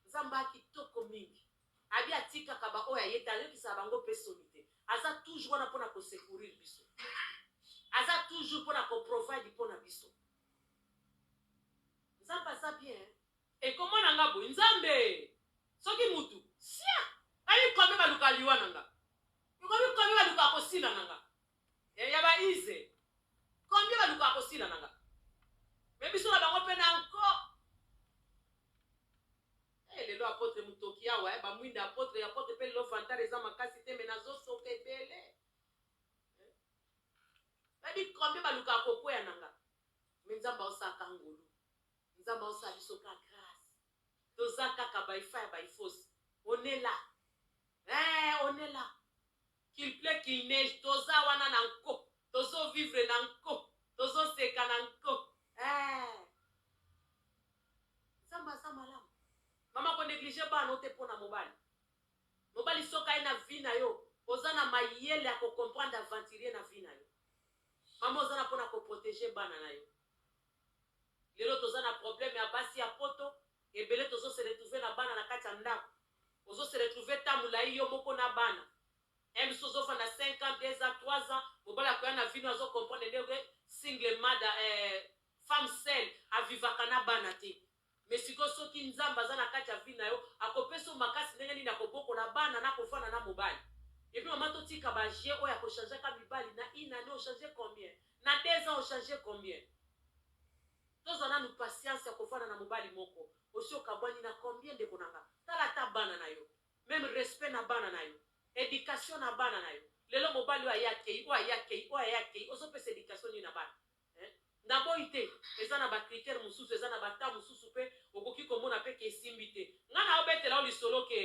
nzambe a kitoko mingi abi atikaka ba oyo aye te ayokisaka bango pe soni te aza toujours wana pona ko secourir biso aza toujours pona ko provide pona biso nzambe aza bien ekomona nga boye nzambe soki mutu sia ayi kome baluka liwa na nga Ekomi combien ba lukaka ko sila na nga eh ya ba ize combien ba lukaka ko sila na nga mais biso na bango pe na nko eh lelo apotre mutoki awa eh ba mwinda apotre apotre pe lelo vantard eza makasi te mais nazo soka ebele eh? babi combien ba lukaka ko kweya na nga mais nzambe aosaka ngolu nzambe aosala biso ka toza kaka by fire by force on est là eeh on est là qu'il pleut qu'il neige toza wana na nko tozo vivre na nko tozo seka na nko eeh nzambe aza malamu mama ko neglige bana ote mpo na mobali mobali soki aye na vie na yo oza na mayele ya kocomprendre aventurier na vie na yo mama oza na mpo na koprotege bana na yo Lelo toza na problème ya basi ya poto ebele tozo se retrouver na bana na kati ya ndaku ozo se retrouver temps mulayi yo moko na bana un misusu ozo fanda cinq ans deux ans trois ans mobali akoya na vie no azo comprendre nde single mother eh femme seule a vivaka na bana te Mais sikoyo soki Nzambe aza na kati ya vie na yo ako pesa yo makasi ndenge nini ya ko bokola bana na ko fanda na mobali? Et puis maman to tika ba jeux oyo ya ko changer ka mibali na une annee o changer combien? Na deux ans o changer combien? To zwa nanu patience ya ko fanda na mobali moko osi o kabwani na combien ndeko na nga? Tala ata bana na yo meme respect na bana na yo, education na bana na yo lelo mobali oyo aya akeyi oyo aya akeyi oyo aya akeyi ozo pesa education nini na bana? Eeh na boyi te eza na ba critère mususu eza na ba temps mususu pe okoki ko mona pe ke esimbi te nga nao betela yo lisolo ke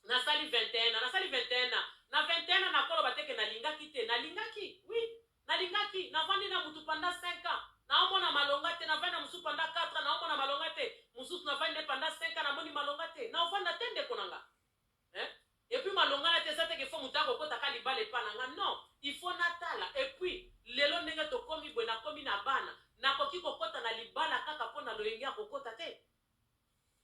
na sali 21 ans na sali 21 ans na 21 ans nako loba te ke na lingaki te na lingaki oui na lingaki na vandi na mutu pendant 5 ans nao mona malonga te na vandi na mususu pendant 4 ans nao mona malonga te mususu na vandi na ye pendant 5 ans na moni malonga te nao vanda te ndeko na nga. Hein? Et puis malonga na te eza te ke faut mutu ako kota ka libala epa na nga non il faut na tala et puis lelo ndenge to komi boye na komi na bana na koki ko kota na libala kaka po na loyenge ako kota te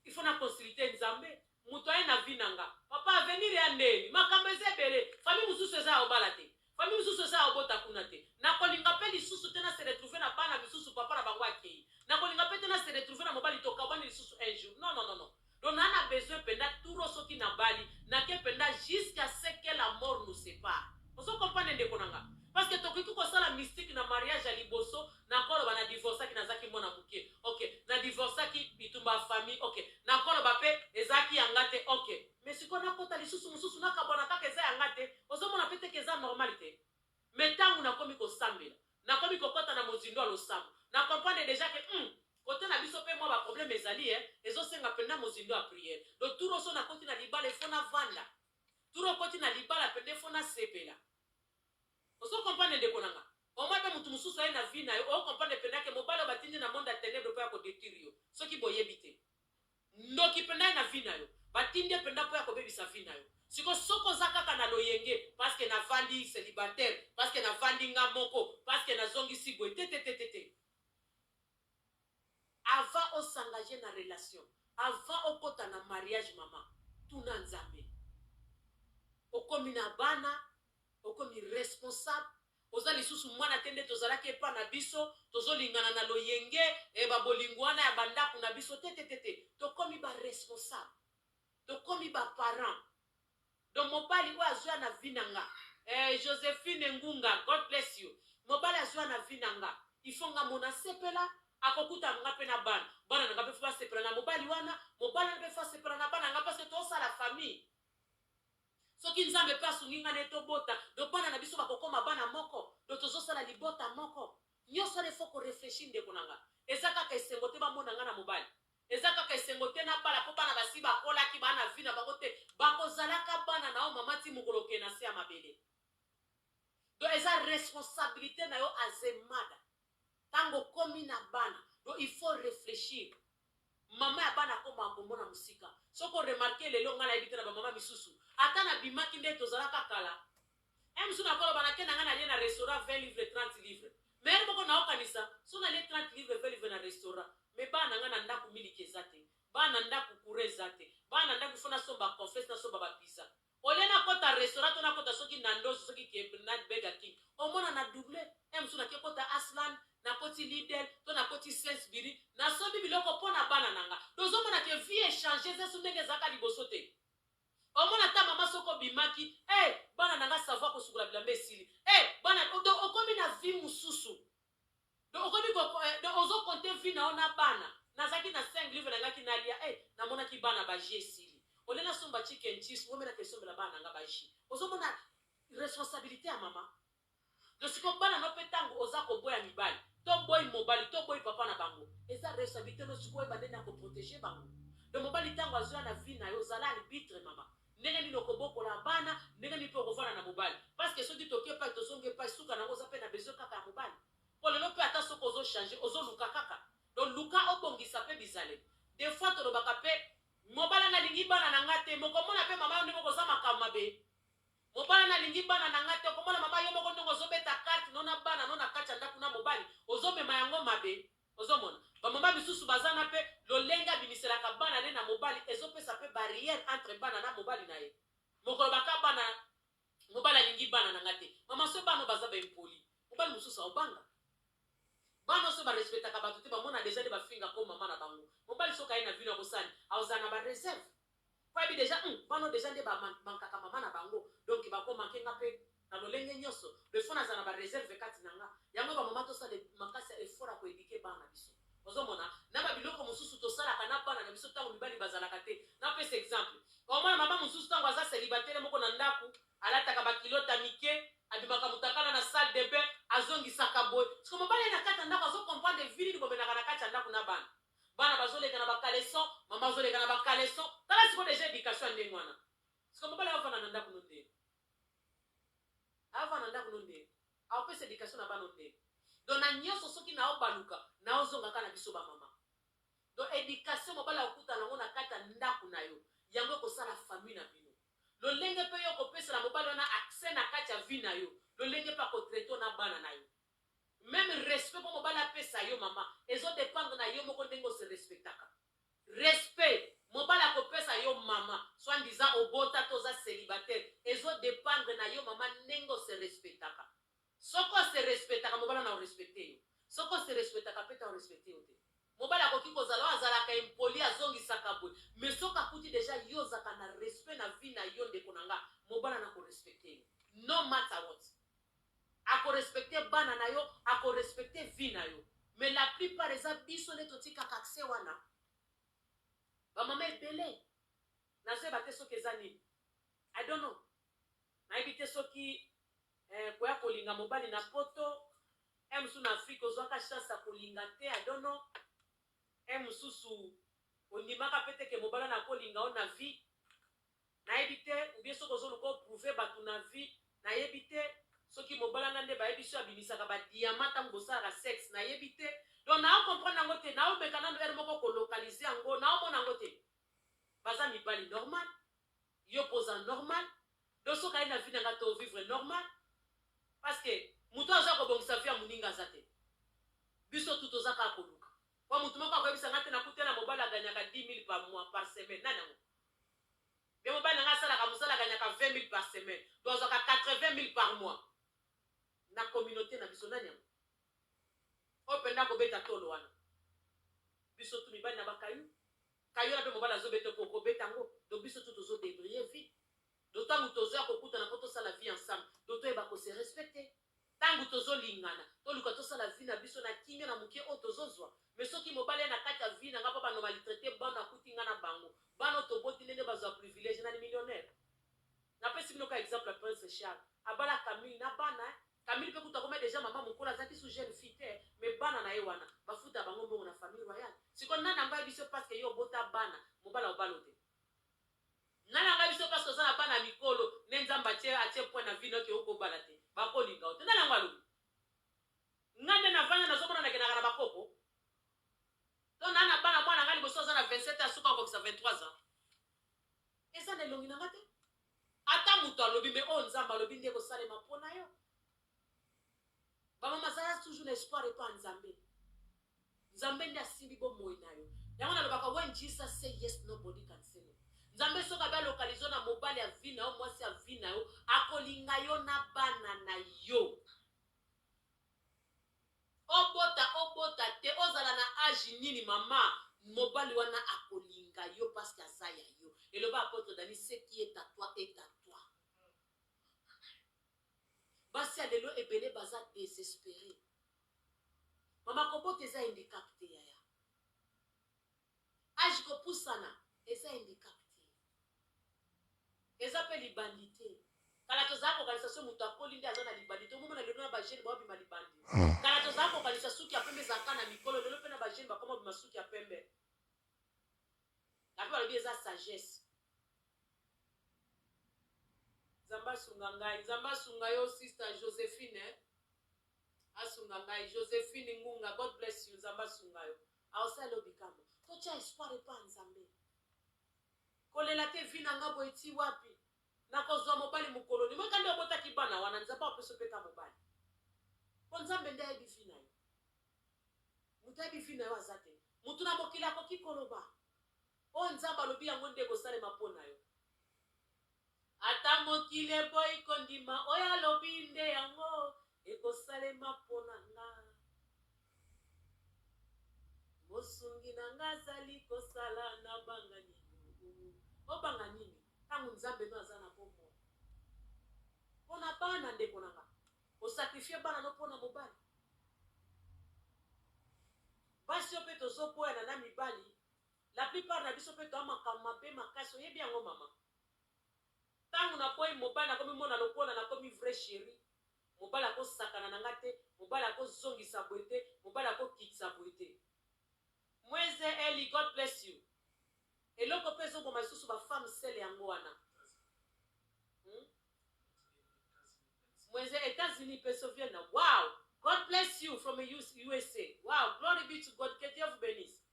il faut na consulter nzambe mutu aye na vie na nga papa avenir ya ndeni makambo eza ebele famille mususu eza ya obala te Famille misusu eza ya kobota kuna te. Nakolinga pe lisusu te na se retrouver na bana misusu papa na bango akeyi. Nakolinga pe te na se retrouver na mobali tokabwani lisusu un jour. Non, non, non, non. Donc na na besoin penda trop soki nabali, nake penda jusqu'à ce que la mort nous separe. Ozo comprendre ndeko na nga? Parce que tokoki kosala mystique na mariage ya liboso, nakoloba na divorcaki nazaki mwana mukie. Okay. Na divorcaki, bitumba ya famille. Okay. Nakoloba pe ezalaki ya nga te. Okay. Mais sikoyo nakota lisusu mususu nakabwana kaka eza ya nga te ozo mona pe te que eza normal te? Mais tangu nakomi kosambela nakomi kokota na mozindo ya losambo na comprendre dejà que hum cote na biso pe mua ba problème ezali eh ezo senga penza mozindo ya prière donc tour oso nakoti na libala il faut navanda tour okoti na libala penza il faut nasepela ozo comprendre ndeko na nga omoi pe mutu mosusu aye na vie na yo o comprendre penza que mobali oyo batindi na monde ya tenebre po ya ko detruire yo soki boyebi te Ndoki pendaye na vie nayo batindi ye penda po ya kobebisa vie nayo sikoyo soki oza kaka na loyenge pasque na vandi celibataire pasque na vandi nga moko pasque na zongisi boye tetetetete avant o s'engager na relation avant okota na mariage maman tuna nzambe okomi na bana okomi responsable Oza lisusu mwana te nde tozalaki epa na biso tozo lingana na loyenge eh ba bolingo wana ya ba ndaku na biso te te te te tokomi ba responsable tokomi ba parents donc mobali oyo azoya na vie na nga eh Josephine Ngunga God bless you mobali azoya na vie na nga il faut nga mona sepela akokuta nga pe na bana bana na nga pe faut basepela na mobali wana mobali wana pe faut asepela na bana nga parce que tozosala famille Soki nzambe pe asungi nga naye tobota donc bana na biso bakokoma bana moko donc tozosala libota moko nioso wana il faut ko reflechir ndeko na nga eza kaka esengo te bamona nga na mobali eza kaka esengo te nabala po bana basi bakolaki ba na vie na bango te bakozalaka bana na yo maman ti mokolo oke na se ya mabele donc eza responsabilite na yo as a mother Tango okomi na bana donc il faut reflechir maman ya bana akomaka komona mosika soki o remarquer lelo ngai nayebi te na ba maman misusu ata na bimaki ndeti tozalaka kala un jour nakoloba nake na ngai nalie na restaurant 20 livres 30 livres mais heure moko naokanisa soki nalie 30 livres 20 livres na restaurant mais bana ngai na ndaku miliki eza te bana ndaku courant eza te bana ndaku faut nasomba confesse nasomba ba pizza Au lieu na kota restaurant to na kota soki Nandos soki KFC na Burger King omona na double heure mosusu nake kota Asland na koti Lidl to na koti Sainsbury na sombi biloko po na bana na nga donc ozo mona ke vie e changer eza lisusu ndenge ezalaka liboso te omona ata mama soki obimaki eh bana na nga savon ya kosukola bilamba esili eh bana donc okomi na vie mosusu Donc okomi ko eh, donc ozo compter vie na yo na bana. Nazalaki na 5 livres nangaki nalia eh namonaki bana ba jus esili. Au lieu nasomba chicken cheese, ngombe na kesombela bana nanga ba jus. Ozo mona responsabilité ya mama. Donc siko bana no pe tango oza koboya mibali, to boyi mobali, to boyi papa na bango. Eza responsabilité no siko oyeba ndenge ya ko proteger bango. Donc mobali tango azoya na vie na yo, zala arbitre mama. Ndenge nini okobokola bana, ndenge nini pe okovanda na mobali. Parce que soki toke epai tozongi epai suka na yango oza pe na besoin kaka ya mobali. Po lelo pe ata soki ozo changer ozo luka kaka. Donc luka obongisa pe bizaleli. De fois tolobaka pe mobali wana alingi bana na nga te mais okomona pe mama yo ndenge okoza makambo mabe. Mobali wana alingi bana na nga te okomona mama yo moko ndenge ozo beta carte no na bana no na kati ya ndaku na mobali ozo mema yango mabe. Ozo mona? Ba maman misusu baza na pe lolenge abimiselaka bana ne na mobali ezo pesa pe barrière entre bana na mobali na ye. Mokolo ba ka bana mobali alingi bana na nga te. Maman soki bana oyo baza ba impolie mobali mususu ao banga? Bana oyo soki ba respectaka batu te ba mona dejà nde ba finga ko maman na bango. Mobali soki aye na vie no ako sala nini? Ako zala na ba reserve. Oyebi dejà hum bano dejà nde ba mankaka maman na bango donc bako manque nga pe na lolenge nionso le faut nazala na ba reserve kati na nga yango ba maman tosala makasi ya effort ya ko eduquer bana na biso ozo mona na ba biloko mususu tosalaka na bana na biso tango mibali bazalaka te na pesa exemple omona maman mususu tango aza celibatele moko na ndaku alataka ba culotte ya mike abimaka mutakala na salle de bain azongisaka boye siko mobali aye na kati ya ndaku azo comprendre vie nini bomenaka na kati ya ndaku na bana bana bazo leka na ba caleçon maman azo leka na ba caleçon tala sikoyo dejà education ya ndenge wana sikoyo mobali ayo avanda na ndaku no ndenge ayo avanda na ndaku no ndenge ayo pesa education na bana no ndenge donc na nionso soki nao baluka nao zonga ka na biso ba mama donc education mobali akuta nango na kati ya ndaku na yo yango ekosala famille na bino lolenge mpe yo kopesela mobali wana accès na kati ya vie na yo lolenge mpe akotraite na bana na yo Meme respect po mobali apesa yo mama ezo dependre na yo moko ndenge o se respectaka. Respect mobali ako pesa yo mama soit disant obota to oza celibataire ezo dependre na yo mama ndenge o se respectaka. Soki o se respectaka mobali wana ako respecter yo. Soki o se respectaka pe te ako respecter yo te. Mobali akoki kozala oyo azalaka impoli azongisaka boye mais soki akuti dejà yo ozalaka na respect na vie na yo ndeko na nga mobali wana ako respecter yo no matter what. Ako respecter bana na yo, ako respecter vie na yo. Mais la plupart eza biso nde totikaka accès wana. Ba mama ebele, nazo yeba te soki eza nini. I don't know. Nayebi te soki eh, koya kolinga mobali na poto, eh mosusu na Afrique ozwaka chance ya kolinga te, I don't know. Eh mosusu ondimaka pe te ke mobali wana akolinga yo na vie. Nayebi te ou bien soki ozo luka o prouver batu na vie nayebi te soki mobala nga nde bayebi soki abimisaka ba diamant tangu bosalaka sex nayebi te donc nao comprendre yango te nao meka nanu heure moko ko localiser yango nao mona yango te baza mibali normal yo pe oza normal donc soki aye na vie na nga to vivre normal parce que mutu oyo aza kobongisa vie ya muninga aza te biso tout oza kaka koluka po mutu moko akoyebisa nga te nakutela mobali aganyaka 10000 par mois par semaine nani yango Nde mobali na ngai asalaka mosala agagnaka 20.000 par semaine donc azwaka 80.000 par mois na communaute na biso nani yango oyo penda akobeta tolo wana biso tu mibali na ba kayu kayu wana mpe mobali azobeta mpo okobeta yango donc biso tu tozo debriller vie donc ntango tozoya kokutana mpo tosala vie ensemble donc toyeba ko se respecter Tangu tozo lingana toluka tosala vie na biso na kimia na mukie oyo tozo zua mais soki mobali aye na kati ya vie na nga po ba nomalitraite bana akuti nga na bango bana oyo toboti nde nde bazua privilege nani millionaire na pesi bino ka exemple prince Charles abala camille na bana hein camille pe kutu akomaki dejà maman mukolo azalaki su jeune fille te mais bana naye wana ba futa bango mbongo na famille royale sikoyo nani ango ayebisi yo pasque yo obota bana mobali aobalote Nga na nga biso place toza na bana ya mikolo nde nzambe atie atie point na vie nayo ke oko bala te bako linga yo te nani yango alobi nga nde na vanda nazo mona na kendaka na ba koko to na na bana mwana nga liboso aza na 27 ans suka akokisa 23 ans eza na elongi na nga te ata mutu alobi me oyo nzambe alobi nde eko salema pona yo Ba mama zala toujours na espoir epa nzambe nzambe nde asimbi bo moyi nayo yango nalobaka when Jesus say yes nobody can say no nzambe soki abe alokalizo na mobali ya vie nayo mwasi ya vie nayo akolinga yo na bana na yo obota obota te ozala na age nini mama mobali wana akolinga yo paske aza ya yo eloba apotre dani seki etatwa etatwa Basi ya lelo ebele baza desespere mama kobota eza indicap te yaya age kopusana eza indicap te eza pe libandi te kala tozala kokanisa so moto akoli nde aza na libandi te omomona lelo na bagene baobima libandi ah. kala tozala kokanisa suki ya pembe ezalaka na mikolo lelo mpe na bagene bakoma obima suki ya pembe ape balobi eza sagesse Nzambe asunga ngai. Nzambe asunga yo sister Josephine eh. Asunga ngai Josephine Ngunga God bless you Nzambe asunga yo. Aosala yo bikambo. Totia espoir epa Nzambe. Kolela te vie na nga boye ti wapi. Nakozwa mobali mokolo nini. Moika nde obotaki bana wana Nzambe apesa yo pe ka mobali. Po Nzambe nde ayebi vie na yo. Moto ayebi vie na yo aza te. Moto na mokili akoki koloba. Oyo Nzambe alobi yango nde ekosalema mpo na yo. Ata mokili eboyi kondima oyo alobi nde yango ekosalema mpo na nga. Mosungi na nga azali kosala na banga nini? Obanga nini? Ntango Nzambe no aza na bomoi mpo na bana ndeko na nga osakrifie bana no mpo na mobali basi oyo mpe tozoboyana na mibali La plupart na biso pe toa makambo mabe makasi oyebi yango maman tangu na boyi mobali na komi mona lokola na komi vrai cheri mobali ako sakana na nga te mobali ako zongisa boye te mobali ako kitisa boye te mweze Elly God bless you eloko pe ezo boma lisusu ba femme seule yango wana hum mweze etats unis pesovienne wow God bless you from usa wow glory be to God que Dieu vous benisse.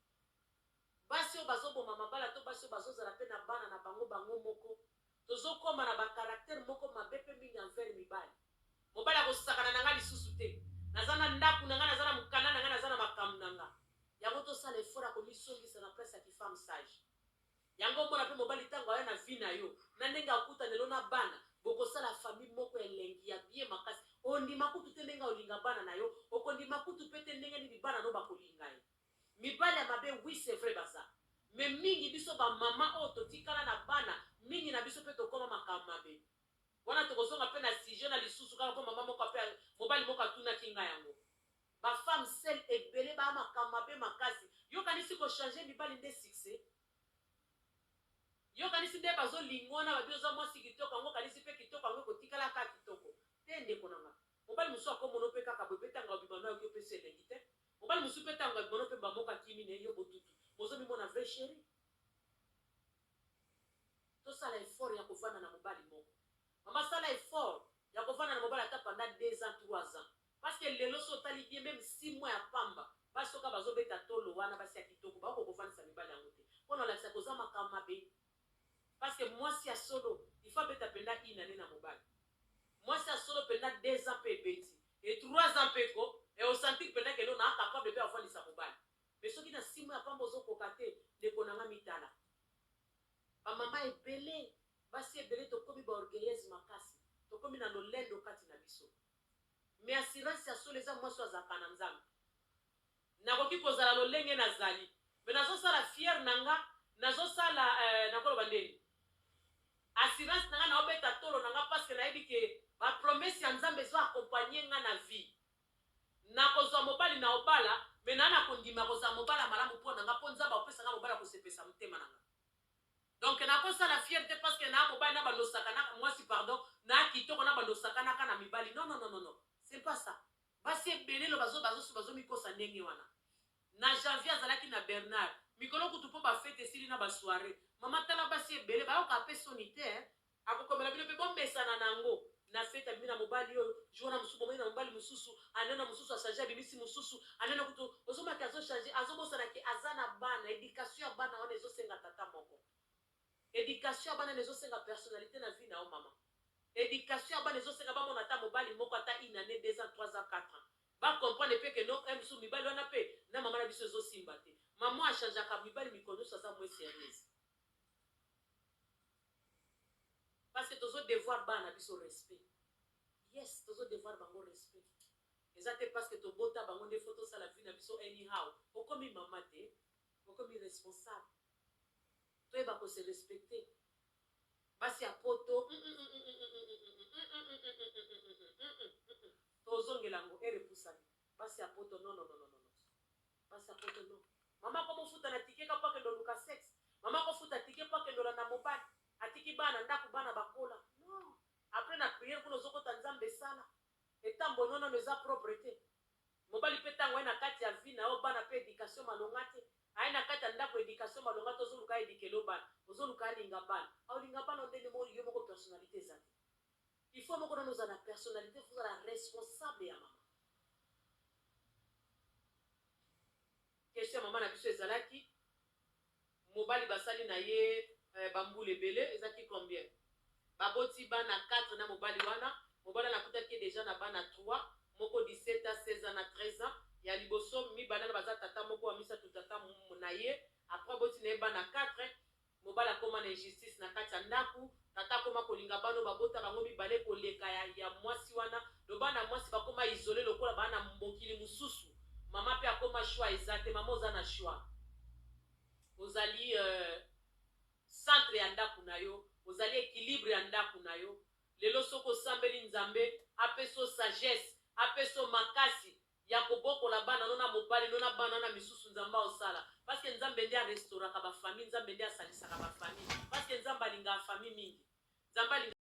basi oyo bazo boma mabala to basi oyo bazo zala pe na bana na bango bango moko tozo koma na ba caractère moko mabe pe mingi envers mibali. Mobali ako sakana na nga lisusu te naza na ndaku na nga naza na mukanda na nga naza na makambu na nga yango to sala effort ya ko mi zongisa na place ya ki femme sage yango omona pe mobali tangu aya na vie na yo na ndenge akutana lelo na bana boko sala famille moko ya elengi ya bien makasi ondima kutu te ndenge olinga bana na yo oko ndima kutu pe te ndenge nini bana no bako linga ye. Mibali ya mabe oui c'est vrai baza mais mingi biso ba maman oyo totikala na bana mingi na biso pe tokoma makambo mabe wana tokozonga pe na sujet na lisusu kaka po maman moko pe mobali moko atunaki nga yango ba femme seul ebele ba makambo mabe makasi yo kanisi ko change mibali nde succès yo kanisi nde bazo linga wana babi oza mwasi kitoko yango okanisi pe kitoko yango ekotikala kaka kitoko te ndeko na nga mobali mosusu akomono pe kaka boye pe tanga obima no ayoki yo pesi elengi te Mobali mosusu pe tango ya bimono pe mbamoko akimi ne yo botutu. Bozo mimona vrai cherie? Tosala effort ya kovanda na mobali moko. Mama sala effort ya kovanda na mobali ata pendant deux ans, trois ans. Parce que lelo soki otali bien meme six mois ya pamba, basi oyo kaka bazo beta tolo wana basi ya kitoko bakoki ko kovandisa mibali yango te. Pona olakisa que oza makambo mabe. Parce que mwasi ya solo il faut abeta penza une annee na mobali. Mwasi ya solo penza deux ans pe ebeti et trois ans pe ko et o sentir penza que non naa capable pe avandisa mobali. Mais soki na six mois ya pamba ozo koka te, ndeko na nga mitala. Ba mama ebele, basi ebele tokomi ba orgueilleuse makasi. Tokomi na lolendo kati na biso. Mais assurance ya solo eza mwasi oyo azalaka na Nzambe. Nakoki kozala lolenge nazali mais nazo sala fier na nga nazo sala euh nako loba ndeni assurance na nga nao beta tolo na nga pasque nayebi que ba promesse ya nzambe ezo accompagne nga na vie nako zua mobali nao bala mais na nako ndima ko zala mobali ya malamu po na nga po nzambe ako pesa nga mobali ako sepelisa motema na nga donc nako sala fier te pasque na mobali na bando sakanaka muasi pardon na kitoko na bando sakanaka na mibali non non non non c'est pas ça Basi ebele loba zoba bazosu bazo mikosa ndenge wana na janvier azalaki na Bernard mikolo kutu po ba fete esili na ba soiree maman tala basi ebele bayoka pe soni te hein. Akokomela bino pe bomesana na ngo na fete abimi na mobali oyo jour wana mosusu bomoni na mobali mosusu anana mosusu a change abimisi mosusu anana kutu ozomona ke azo change azobosana ke aza na bana education ya bana wana ezosenga tata moko Education ya bana ezo senga personnalite na vie na yo maman. Education ya bana ezo senga ba mona ata mobali moko ata une annee, deux ans, trois ans, quatre ans. Ba comprendre pe que non un jour mibali wana pe na maman na biso ezo simba te. Maman a changeaka mibali mikolo nioso aza moins serieuse. Parce que tozo devoir bana na biso respect. Yes tozo devoir bango respect. Eza te parce que tobota bango nde faut tosala vie na biso anyhow. Okomi maman te, okomi responsable. toyeba ko se respecter basi ya poto uumm tozongela ngo heure epusani basi ya poto nononononono basi ya poto non mama akomi ofuta na ticket ka po akende oluka sex mama akofuta ticket po akende olanda mobali atiki bana ndaku bana bakola non après na prière kuna ozokota nzambe esala etambo no nano eza propre te Mobali pe tango aye na kati ya vie nayo bana pe education malonga te aye na kati ya ndaku education malonga te ozo luka a eduquer yo bana ozo luka alinga bana aolinga bana yo ndenge moko yo moko personnalite eza te il faut yo moko nanu ozala na personnalite faut ozala responsable ya maman question ya maman na biso ezalaki Mobali basali na ye eh, ba mbula ebele eza ki combien? Ba boti bana quatre na mobali wana, mobali wana akutaki ye dejà na bana trois, moko 17 ans, 16 ans na 13 ans, ya liboso mibalana baza tata moko, wa misatu tata na ye, après aboti na ye bana quatre, mobali akoma na injustice na kati ya ndaku, Tata akoma kolinga bana oyo babota bango mibale koleka ya ya mwasi wana donc bana ya mwasi bakoma isole lokola ba na mokili mususu maman pe akoma choix eza te maman oza na choix ozali euh, centre ya ndaku na yo ozali equilibre ya ndaku na yo lelo soki osambeli nzambe apeso sagesse apeso makasi ya kobokola bana no na mobali no na bana na misusu nzambe aosala parce que nzambe nde a restauraka ba famille nzambe nde asalisaka ba famille parce que nzambe alingaka famille mingi nzambe alingaka